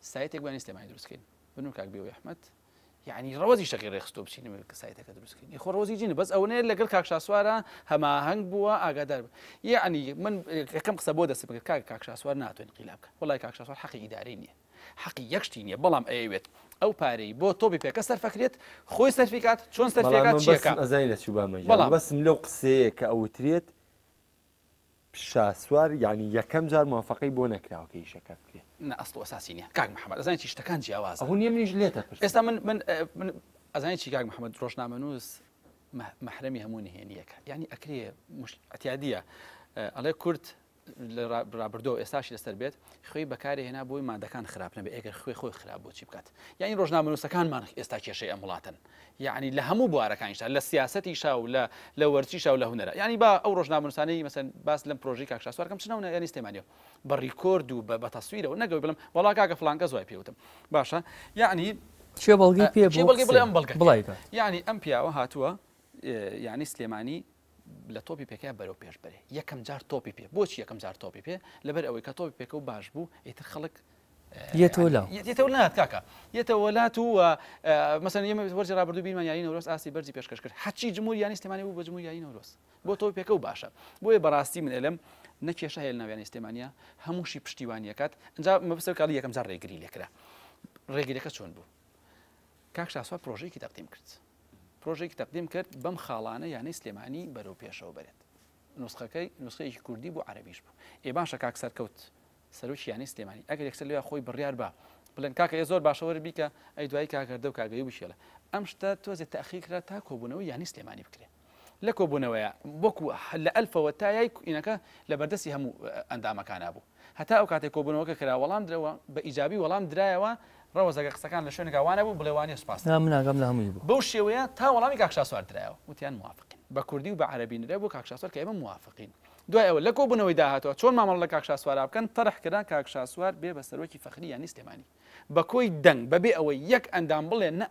سایتێک بانی سلێمانی دروست کەین بنو کاک بێوی احمد یعنی ڕەوەزی شەقی ڕێخستۆ بچین نوێ کە سایتەکە دروست کەین خۆ ڕۆزی جینە بەس ئەوەنەیە لەگەڵ کاک شاسوارە هەماهەنگ بووە ئاگادار بوو یعنی من یەکەم قسە بۆ دەست بگرت کاک کاک شاسوار ناتوانین قیلا بکە وڵای کاک شاسوار حەقی ئیدارەی نییە حەقی یەکشتی نییە بەڵام ئەیەوێت ئەو پارەی بۆ تۆپی پێکە سەرفەکرێت خۆی سەرفیکات چۆن سەرفیکات چیەکە ئەزای لە چوبامە بەڵام بەسم لەو قسەیە کە ئەوترێت شاسوار یانی یەکەم جار موافەقەی بۆ نەکراوە کە ئیشەکە بکرێ نە ئەسڵ و ئەساسی نیە کاک محمد ئەزانی چی شتەکان جیاوازە ئەوە نیە منیش لێتە پرسم ئێستا من من من ئەزانی چی کاک محمد ڕۆژنامەنووس مەحرەمی هەموو نهێنیەکە یعنی ئەکرێ ئەتیادیە ئەڵێ کورد ڕابردۆ ئێستاش لەسەر بێت خوێی بەکارێ هێنا بۆی مادەکان خراپ نەبێ ئەگەر خوێ خۆی خراپ بۆ چی بکات یعنی ڕۆژنامەنووسەکانمان ئێستا کێشەی ئەم وڵاتن یەعنی لە هەموو بوارەکانیشدا، لە سیاسەتیشا و لە لە وەرزشیشا و لە هونەرا. یەعنی با ئەو ڕۆژنامەنووسانەی مەسەلەن باس لەم پرۆژەی کاک شاسوار کەم، چ ناو نایەنی سلێمانی و بە ڕیکۆرد و بە بە تەسویرەوە نەگەوی بڵێم وەڵا کاکە فڵان کەس وای پێ وتم. باشە یەعنی کێ بەڵگەی پێ بوو کێ بەڵگەی بڵێ ئەم بەڵگە کێ؟ بڵاوی کات. یەعنی ئەم پیاوە هاتووە یەعنی سلێمانی لە تۆپی پێکەیا بەرەو پێش بەرێ یەکەم جار تۆپی پێ بۆچی یەکەم جار تۆپی پێ لەبەر ئەوەی کە تۆپی پێکە و باش بوو ئیتر خەڵک یەتەولات کاکە یەتەوەلات و مەسەن ئێمە وەرزی ڕابردوو بیمان یاری نەورۆز ئاستی بەرزی پێشکەش کرد حچی جمهور یانی سلێمانی بوو بە جمهور یاری نەورۆز بۆ تۆ پێکە و باشە بۆیە بەڕاستی من ئەلم نەکێشە هەیە ناویانی سلێمانیا هەمووشی پشتیوانیەکەات ئەجا مەبسەر کاڵی یەکەم جار ڕێگری لێکرا ڕێگرەکە چۆن بوو کاک شاسوار پرۆژەیەکی تەقدیم کرد پرۆژێکی تەقدیم کرد بەم خاڵانە یانەی سلێمانی بەرەو پێشەوە بەرێت نوسخەکەی نوسخەیەکی کوردی بوو عەرەبیش بوو ئێ باشە کاک سەرکەوت سەرۆکی یانەی سلێمانی ئەگەر یەکسەر لێ خۆی بڕیار بە بڵێن کاکە ئێ زۆر باشە وەرە بیکە ئەی دوایی کاکەردە و کاگەیوبی شێڵە ئەم شتە تۆزێ تاخیر کرا تا کۆبوونەوە یانەی سلێمانی بکرێت لە کۆبوونەوەیە وەکو لە ئەلفەوە تا یای کوینەکە لە بەردەستی هەموو ئەندامەکانا بوو هەتا ئەو کاتەی کۆبوونەوەکە کرا وەڵام درەوە بە ئیجابی وەڵام درایەوە ڕەوەز ئەگەر قسەکان لە شوێنێکا وا نەبوو بڵێ وانیە سوپاست دەکەم بەو شێوەیە تا وەڵامی کاک شاسوار درایەوە وتیان موافقین بە کوردی و بە عەرەبی نرا بۆ کاک شاسوار کە ئێمە موافقین دوای ئەوە لە کۆبوونەوەی داهاتووە چۆن مامەڵە لە کاک شاسوارا بکەن تەڕح کرا کاک شاسوار بێ بە سەرۆکی فەخری یانەی سلێمانی بە کۆی دەنگ بە بێ ئەوەی یەک ئەندام بڵێ نا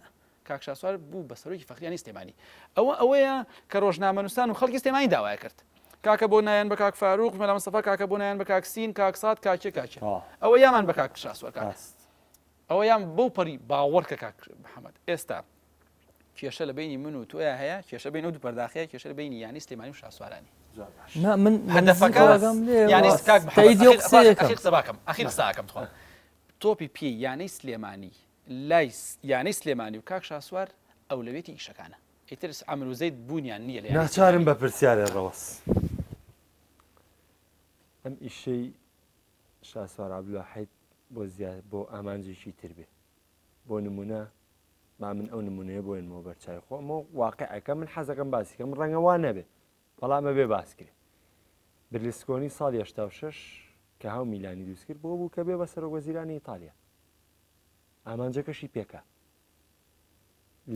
کاک شاسوار بوو بە سەرۆکی فەخریانی سلێمانی ئەوە ئەوەیە کە ڕۆژنامەنووسان و خەڵکی سلێمانی داوایان کرد کاکە بۆ نایەن بە کاک فاروق مەلا مستەفا کاکە بۆ نایەن بە کاک سین کاک سات کاک کێ کاک کێ ئەوە یامان بە کاک شاسوار کاک هەست ئەوەیان بەو پەڕی باوەڕ کە کاک محەمەد ئێستا کێشە لە بینی من و تۆیا هەیە کێشە بین ئەو دوو پەرداخەیە کێشە لە بینی یانی سلێمانی و شاسوارانی نا من هەدەفەکە یانی کاک محەمەد قسەکەم ئەخیر قسەکەم تخوا تۆپی پێی یانەی سلێمانی لای یانەی سلێمانی و کاک شاسوار ئەولەوێتی ئیشەکانە ئیتر عەمر و زەید بوونیان نییە لە یانەی ناچارم سلێمانی. بە پرسیارێ ڕەوەس ئەم ئیشەی شاسوار عەبدولواحید بۆ زیا بۆ ئامانجێکی تر بێ بۆ نموونە با من ئەو نموونەیە بۆێنمەوە بەرچاوی خۆم و واقعەکە من حەزەکەم باسی کەم ڕەنگە وا نەبێ بەڵام ئەبێ باس کرێ برلسکۆنی ساڵی هەشتا و شەش کە هاو میلانی دروست کرد بۆ بوو کە بێ بە سەرۆک وەزیرانی ئیتالیا ئامانجەکەشی پێکا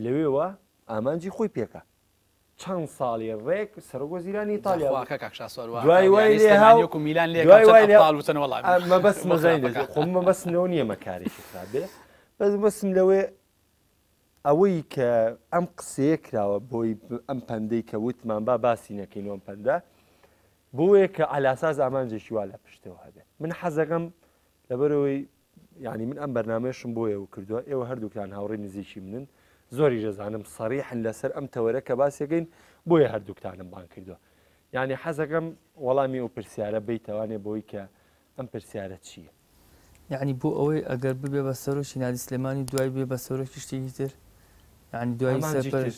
لەوێوە ئامانجی خۆی پێکا چەند ساڵی ڕێک سەرۆک وەزیرانی ئیتالیا بوو. خواکە کاک شاسوار وا دوای وای یانەی لێ سلێمانی هاو- وەکو میلان لێ دوای وای لێ- وتن وەڵا ئەمە بەس مەزای دەزێ خۆ من بەسم لەوە نییە مەکارێکی خراپ بێ بەس بەسم لەوەیە ئەوەی کە ئەم قسەیە کراوە بۆی ب- ئەم پەندەی کە وتمان با باسی نەکەین ئەم پەندە بۆیە کە علاساس ئامانجێکی وا لە پشتەوە هەبێت من حەزەکەم لەبەرەوەی یانی من ئەم بەرنامەیەشم بۆ ئێوە کردووە، ئێوە هەردووکتان هاوڕێی نزیکی منن، زۆریش دەزانم سەریحن لەسەر ئەم تەوەرە کە باسیەکەین، بۆیە هەردووکتانم بانگ کردووە. یانی حەزەکەم وەڵامی ئەو پرسیارە بەیتەوانێ بەوەی کە ئەم پرسیارە چییە؟ یانی بۆ ئەوەی ئەگەر ببێ بە سەرۆکی نادی سلێمانی و دوای بێ بە سەرۆکی شتێکی تر؟ یانی دوای سەر پەرش؟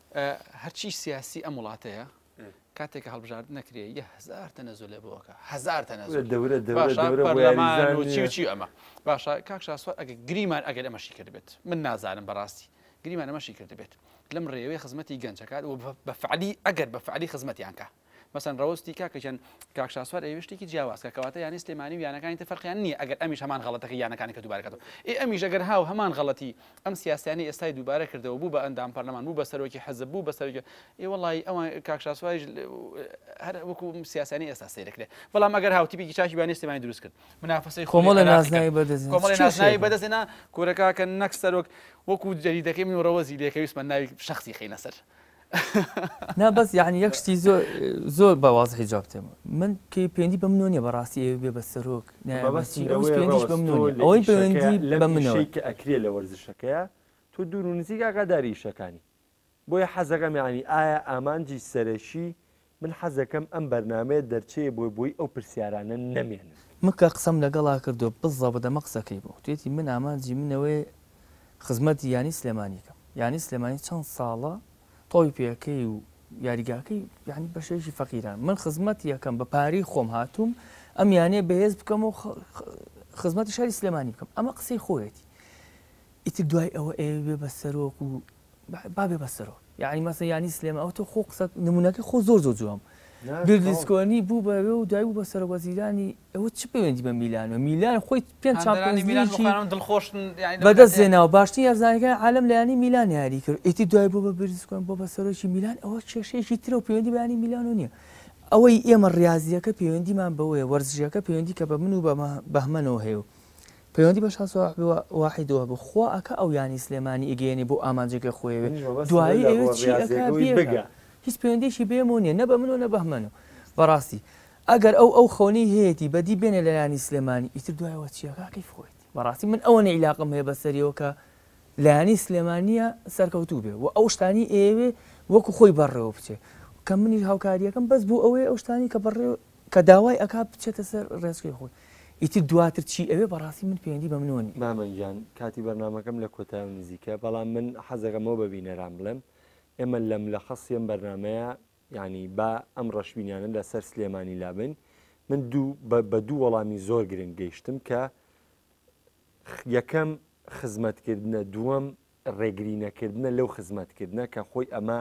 هەرچی سیاسی ئەم وڵاتەیە کاتێک هەڵبژارد نەکرێ یە هزار تەنەزو لێ بۆکە هزار تەنەزور دەورە دەورەچی ئەمە باشە کاک شاسوار ئەگە گریمان ئەگەر ئەمەشی کردبێت من نازانم بەڕاستی گریمان ئەمەشی کردبێت لەم ڕێوەی خزمەتی گەنجەکات و بەفعلی ئەگەر بەفعلی خزمەتیانکە مەسەن ڕەوستی کاکە گیان کاک شاسوار ئەیەوێ شتێکی جیاواز کە کەواتە یانەی سلێمانی و یانەکانی تر فەرقیان نییە ئەگەر ئەمیش هەمان غەڵەتەکەی یانەکانی کە دووبارە کاتەوە ئێ ئەمیش ئەگەر هاو هەمان غەڵەتی ئەم سیاسیانەی ئێستای دووبارە کردەوە بوو بە ئەندام پەرلەمان بوو بە سەرۆکی حزب بوو بە سەرۆکی ئێ وەڵی ئەوان کاک شاسواریش هەر وەکو سیاسیانی ئێستا سەیرەکرێ بەڵام ئەگەر هاو تیپێکی چاکی یانەی سلێمانی دروست کرد منافەسەی کۆمەڵی نازناوی بەدەست کۆمەڵی نازناوی بەدەستێنا کورە کاکە نەک سەرۆک وەکو جەریدەکەی من و ڕەوەزی لێکەویستمان ناوی شخصی خینە سەر نا بەس یەعنی یەک شتی زۆر زۆر بە وازحی جواب تێم من کەی پەیوەندی بە منەوە نیە بەڕاستی ئێوەی بێ بە سەرۆک نایە بە چی ئەویش پەیوەندیش بە منەوە نیە ئەوەی پەیوەندی بە منەوە ئەکرێ لە وەرزشەکەیە تۆ دوور و نزیک ئاگاداری ئیشەکانی بۆیە حەزەکەم یەعنی ئایا ئامانجی سەرەکی من حەزەکەم ئەم بەرنامەیە دەرچەیە بۆی بۆی ئەو پرسیارانە نەمێنن. مکە قسەم لەگەڵا کردوە بزەبت ئەمە قسەکەی بوو وتویەتی من ئامانجی من ئەوەیە خزمەتی یانەی سلێمانی کەم یانەی سلێمانی چەند ساڵە تۆیپێکەی و یاریگاکەی یانی بەشێکی فەقیران من خزمەتی ئەکەم بە پارەی خۆم هاتووم ئەم یانەیە بەهێز بکەم و خزمەتی شاری سلێمانی بکەم ئەمە قسەی خۆیەتی ئیتر دوای ئەوە ئێوێ بە سەرۆک و با بێ بەسەرۆ یاعنی مەسە یانی سلێمە ئەو تۆ خۆ قسە نمونونەکە خۆ زۆر زۆر جوام گردیسکۆنی بوو بە و دوای بوو بە سەرۆک وەزیرانی ئەوە چ پەیوەندی بە میلانەوە میلان خۆی پێنج بەدەست زێناوە باشتر یارزانەکان عالم لایانی میلان یاری کرد ئیتی دوای بوو بە بریسکۆن بۆ بە سەرۆکی میلان ئەوە کێشەیەکی ترە و پەیوەندی بەیانی میلان و نییە ئەوەی ئێمە ڕاضیەکە پەیوەندیمان بەوەیە وەرزشەکە پەیوەندی کە بە من و بەمە بەهمەنەوە هەیە و پەیوەندی بە شا سۆاحبی واحید وە بو خوا ئەکا ئەو یانی سلێمانی ئیگەیەنێ بو ئامانجێک لە خۆیە بێ دوایی ئەیوێ چی ئەکا بیەکا هیچ پەیوەندیەکی بەیەمەوە نیە نە بە من و نە بەهمەن و بەراستی ئەگەر ئەو ئەو خەونەی هەیەتی بەدی بێنێ لە یانی سلێمانی ئیتر دوایەوە چی ئەکا کەیف خۆیەتی بەراستی من ئەوەنە ئیلاقەم هەیە بە سەریەوە کە لە یانی سلێمانیە سەرکەوتو بێ وە ئەو شتانی ئەیەوێ وەکو خۆی بەڕێوە بچێ کە منیش هاوکاریەکەم بەس بو ئەوەیە ئەو شتانی کە بەڕێوە کە داوای ئەکات بچێتە سەر ڕێچکەی خۆی ئیتر دواتر چی ئەوێ بەڕاستی من پەیوەندی بە منۆ نیە. مامە گیان کاتی بەرنامەکەم لە کۆتایەوە نزیکە بەڵام من حەزەکەم ئەوە بە بینەران بڵێم ئێمە لەم لە خەستی ئەم بەرنامەیە یانی با ئەم ڕەشبینانە لە سەر سلێمانی لابەین من دوو بە دوو وەڵامی زۆر گرنگ گەیشتم کە یەکەم خزمەتکردنە دووەم ڕێگرینەکردنە لەو خزمەتکردنە کە خۆی ئەمە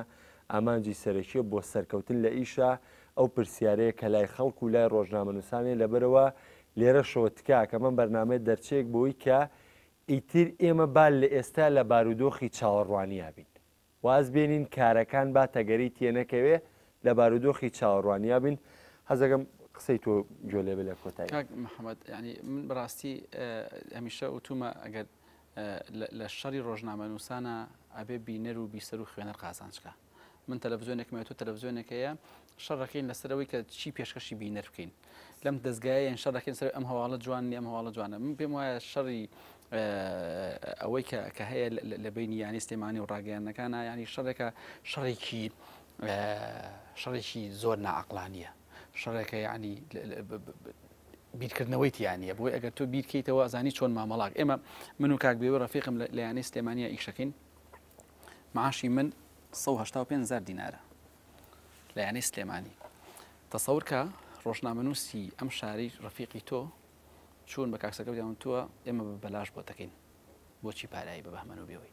ئامانجی سەرەکیە بۆ سەرکەوتن لە ئیشا، ئەو پرسیارەیە کە لای خەڵک و لای ڕۆژنامەنووسانەیە لەبەرئەوە لێرەشەوە تکاکە مەم بەرنامەیە دەرچەیەک بەوەی کە ئیتر ئێمە با لە ئێستا لە بارودۆخی چاوەڕوانیا بین واز بێنین کارەکان با تەگەرەی تێنەکەوێ لە بارودۆخی چاوەڕوانیا بین حەزەکەم قسەی تۆ گوێ لێ بێ لە کۆتایی. کاک محەمەد یانی من بەڕاستی هەمیشە وتومە ئەگەر لە شەڕی ڕۆژنامەنووسانا ئەبێ بینەر و بیسەر و خوێنەر قازانج کا. من تەلەڤزیۆنێکمە تۆ تەلەڤزیۆنێک هەیە شەڕەکەین لەسەر ئەوەی کە چی پێشکەشی بینەر بکەین لەم دەستگایەن شەڕەکەین سەر ئەم هەواڵە جوان نیە ئەم هەواڵە جوانە من پێم وایە شەڕی ئەوەی کە کە هەیە لە بینی یانی سلێمانی و ڕاگەیانەکانە ینی شەڕێکە شەڕێکی شەڕێکی زۆر ناعقلانیە شەڕێکە یعنی بیرکردنەوەی تیا نیە بۆی ئەگەر تۆ بیرکەیتەوە ئەزانی چۆن مامەڵاک ئێمە من و کاک بێوە ڕەفیقم لە یانەی سلێمانیا ئیشەکەین معاشی من 1970 زار دینارە لە یانەی سلێمانی تەسەورکە ڕۆژنامەنووسی ئەم شاری ڕەفیقی تۆ چوون بە کاکسەکە دیان تووە ئێمە بەلاش بۆ دەکەین بۆچی پارایی بە بەهمەن و بێەوەی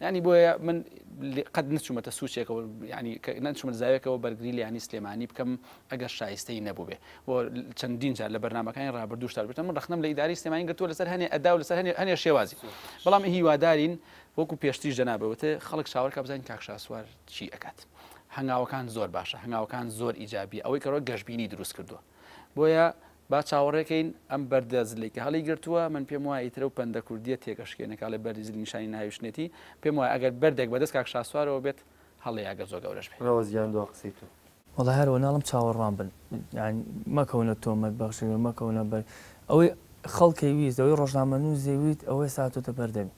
یعنی بۆیە من قەت نچوومەتە سوچێکەوە ینی نەچوومە زاوێکەوە بەرگری لیانی سلێمانی بکەم ئەگەر شایستەی نەبووێ بۆ چەندین جار لە بەرنمەکانی رابرردوو شاربێتە من رخنم لە ئیداری سلێمانی گرتووە لەسەر هەنێ ئەدا و لەسەر هەنێ شێوازی بەڵام هیوادارین وەکو پێشتیش جەنابەوەتە خەڵک چاوەکە بزانین کاکشاسوار چی ئەکات هەنگاوەکان زۆر باشە هەنگاوەکان زۆر ئیجابی ئەوەی کەەوە گەشببینی دروست کردووە بۆیە با چاوەڕێ کەین ئەم بەردە زلەی کە هەڵی گرتووە، من پێم وایە ئیترە و پەندە کوردییە تێکەشکێنێ کە ئەڵێ بەردی زل نیشانی نەهاویشتنێتی، پێم وایە ئەگەر بەردێک بەدەست کاک شاسوارەوە بێت هەڵەیە ئەگەر زۆر گەورەش بێ. ڕەوەز گیان دوا قسەی تۆ. وەڵا هەر وە ناڵم چاوەڕوان بن یان مەکەونە تۆمەت بەخشین و مەکەونە بەر ئەوەی خەڵکەی ویست ئەوەی ڕۆژنامەنووس ی ویت ئەوەی ساتۆتە بەردەمی.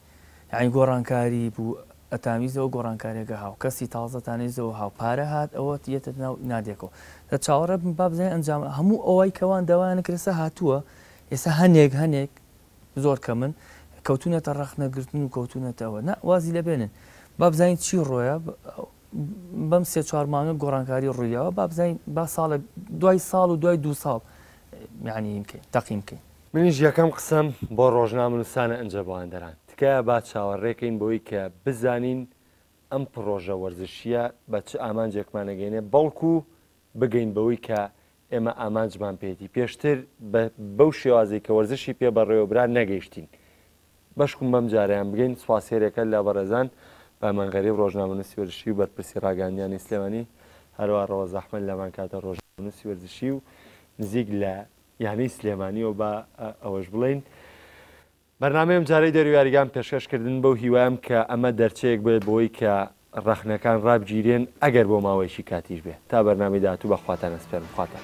یانی گۆڕانکاری بوو ئەتانویست لەوە گۆڕانکاریە گە هاو کەسی تازە تانویست لەوە هاو پارە هات ئەوە یەتە ناو نادێکۆ دە چاوەڕێ بن با بزانین ئەنجام هەموو ئەوەی کەوان داوایان کرد ئێستا هاتووە ئێستا هەنێک هەنێک زۆر کەمن کەوتونەتە ڕەخنە گرتن و کەوتونەتە ئەوە نا وازی لە بێنن با بزانین چی ڕۆیە بەم سێ چوار مانگە گۆڕانکاری ڕوویەوە با بزانین با ساڵە دوای ساڵ و دوای دوو ساڵ یعنی بکەین تەقیم بکەین منیش یەکەم قسەم بۆ ڕۆژنامەنووسانە ئنجەبواندەران تکایە با چاوەڕێکەین بۆی کە بزانین ئەم پڕۆژە وەرزشییە بە چ ئامانجێکمان ئەگەینێ بەڵکو بگەین بەوەی کە ئێمە ئامانجمان پێیەتی پێشتر بە بەو شێوازەی کە وەرزشی پێ بەڕێوە برا نەگەیشتین بەشکوم بەم جارەیان بگەین سوپاس هێرێکە لە بەڕێزان پایمان غەریب ڕۆژنامەنووسی وەرزشی و بەرپرسی ڕاگەیاندنیانی سلێمانی هەروە ڕەوەز ئەحمەد لەمان کاتە ڕۆژنامەنووسی وەرزشی و نزیک لە یانەی سلێمانی و با ئەوەش بڵێین بەرنامەی ئەم جارەی دەرو یاریگان پێشکەش کردن بەو هیوایم کە ئەمە دەرچەیەک بێت بۆی کە ڕەخنەکان ڕابگیرێن ئەگەر بۆ ماوەیەکی کاتیش بێ تا بەرنامی داهاتوو بەخواتان ئەسپێرم خواتان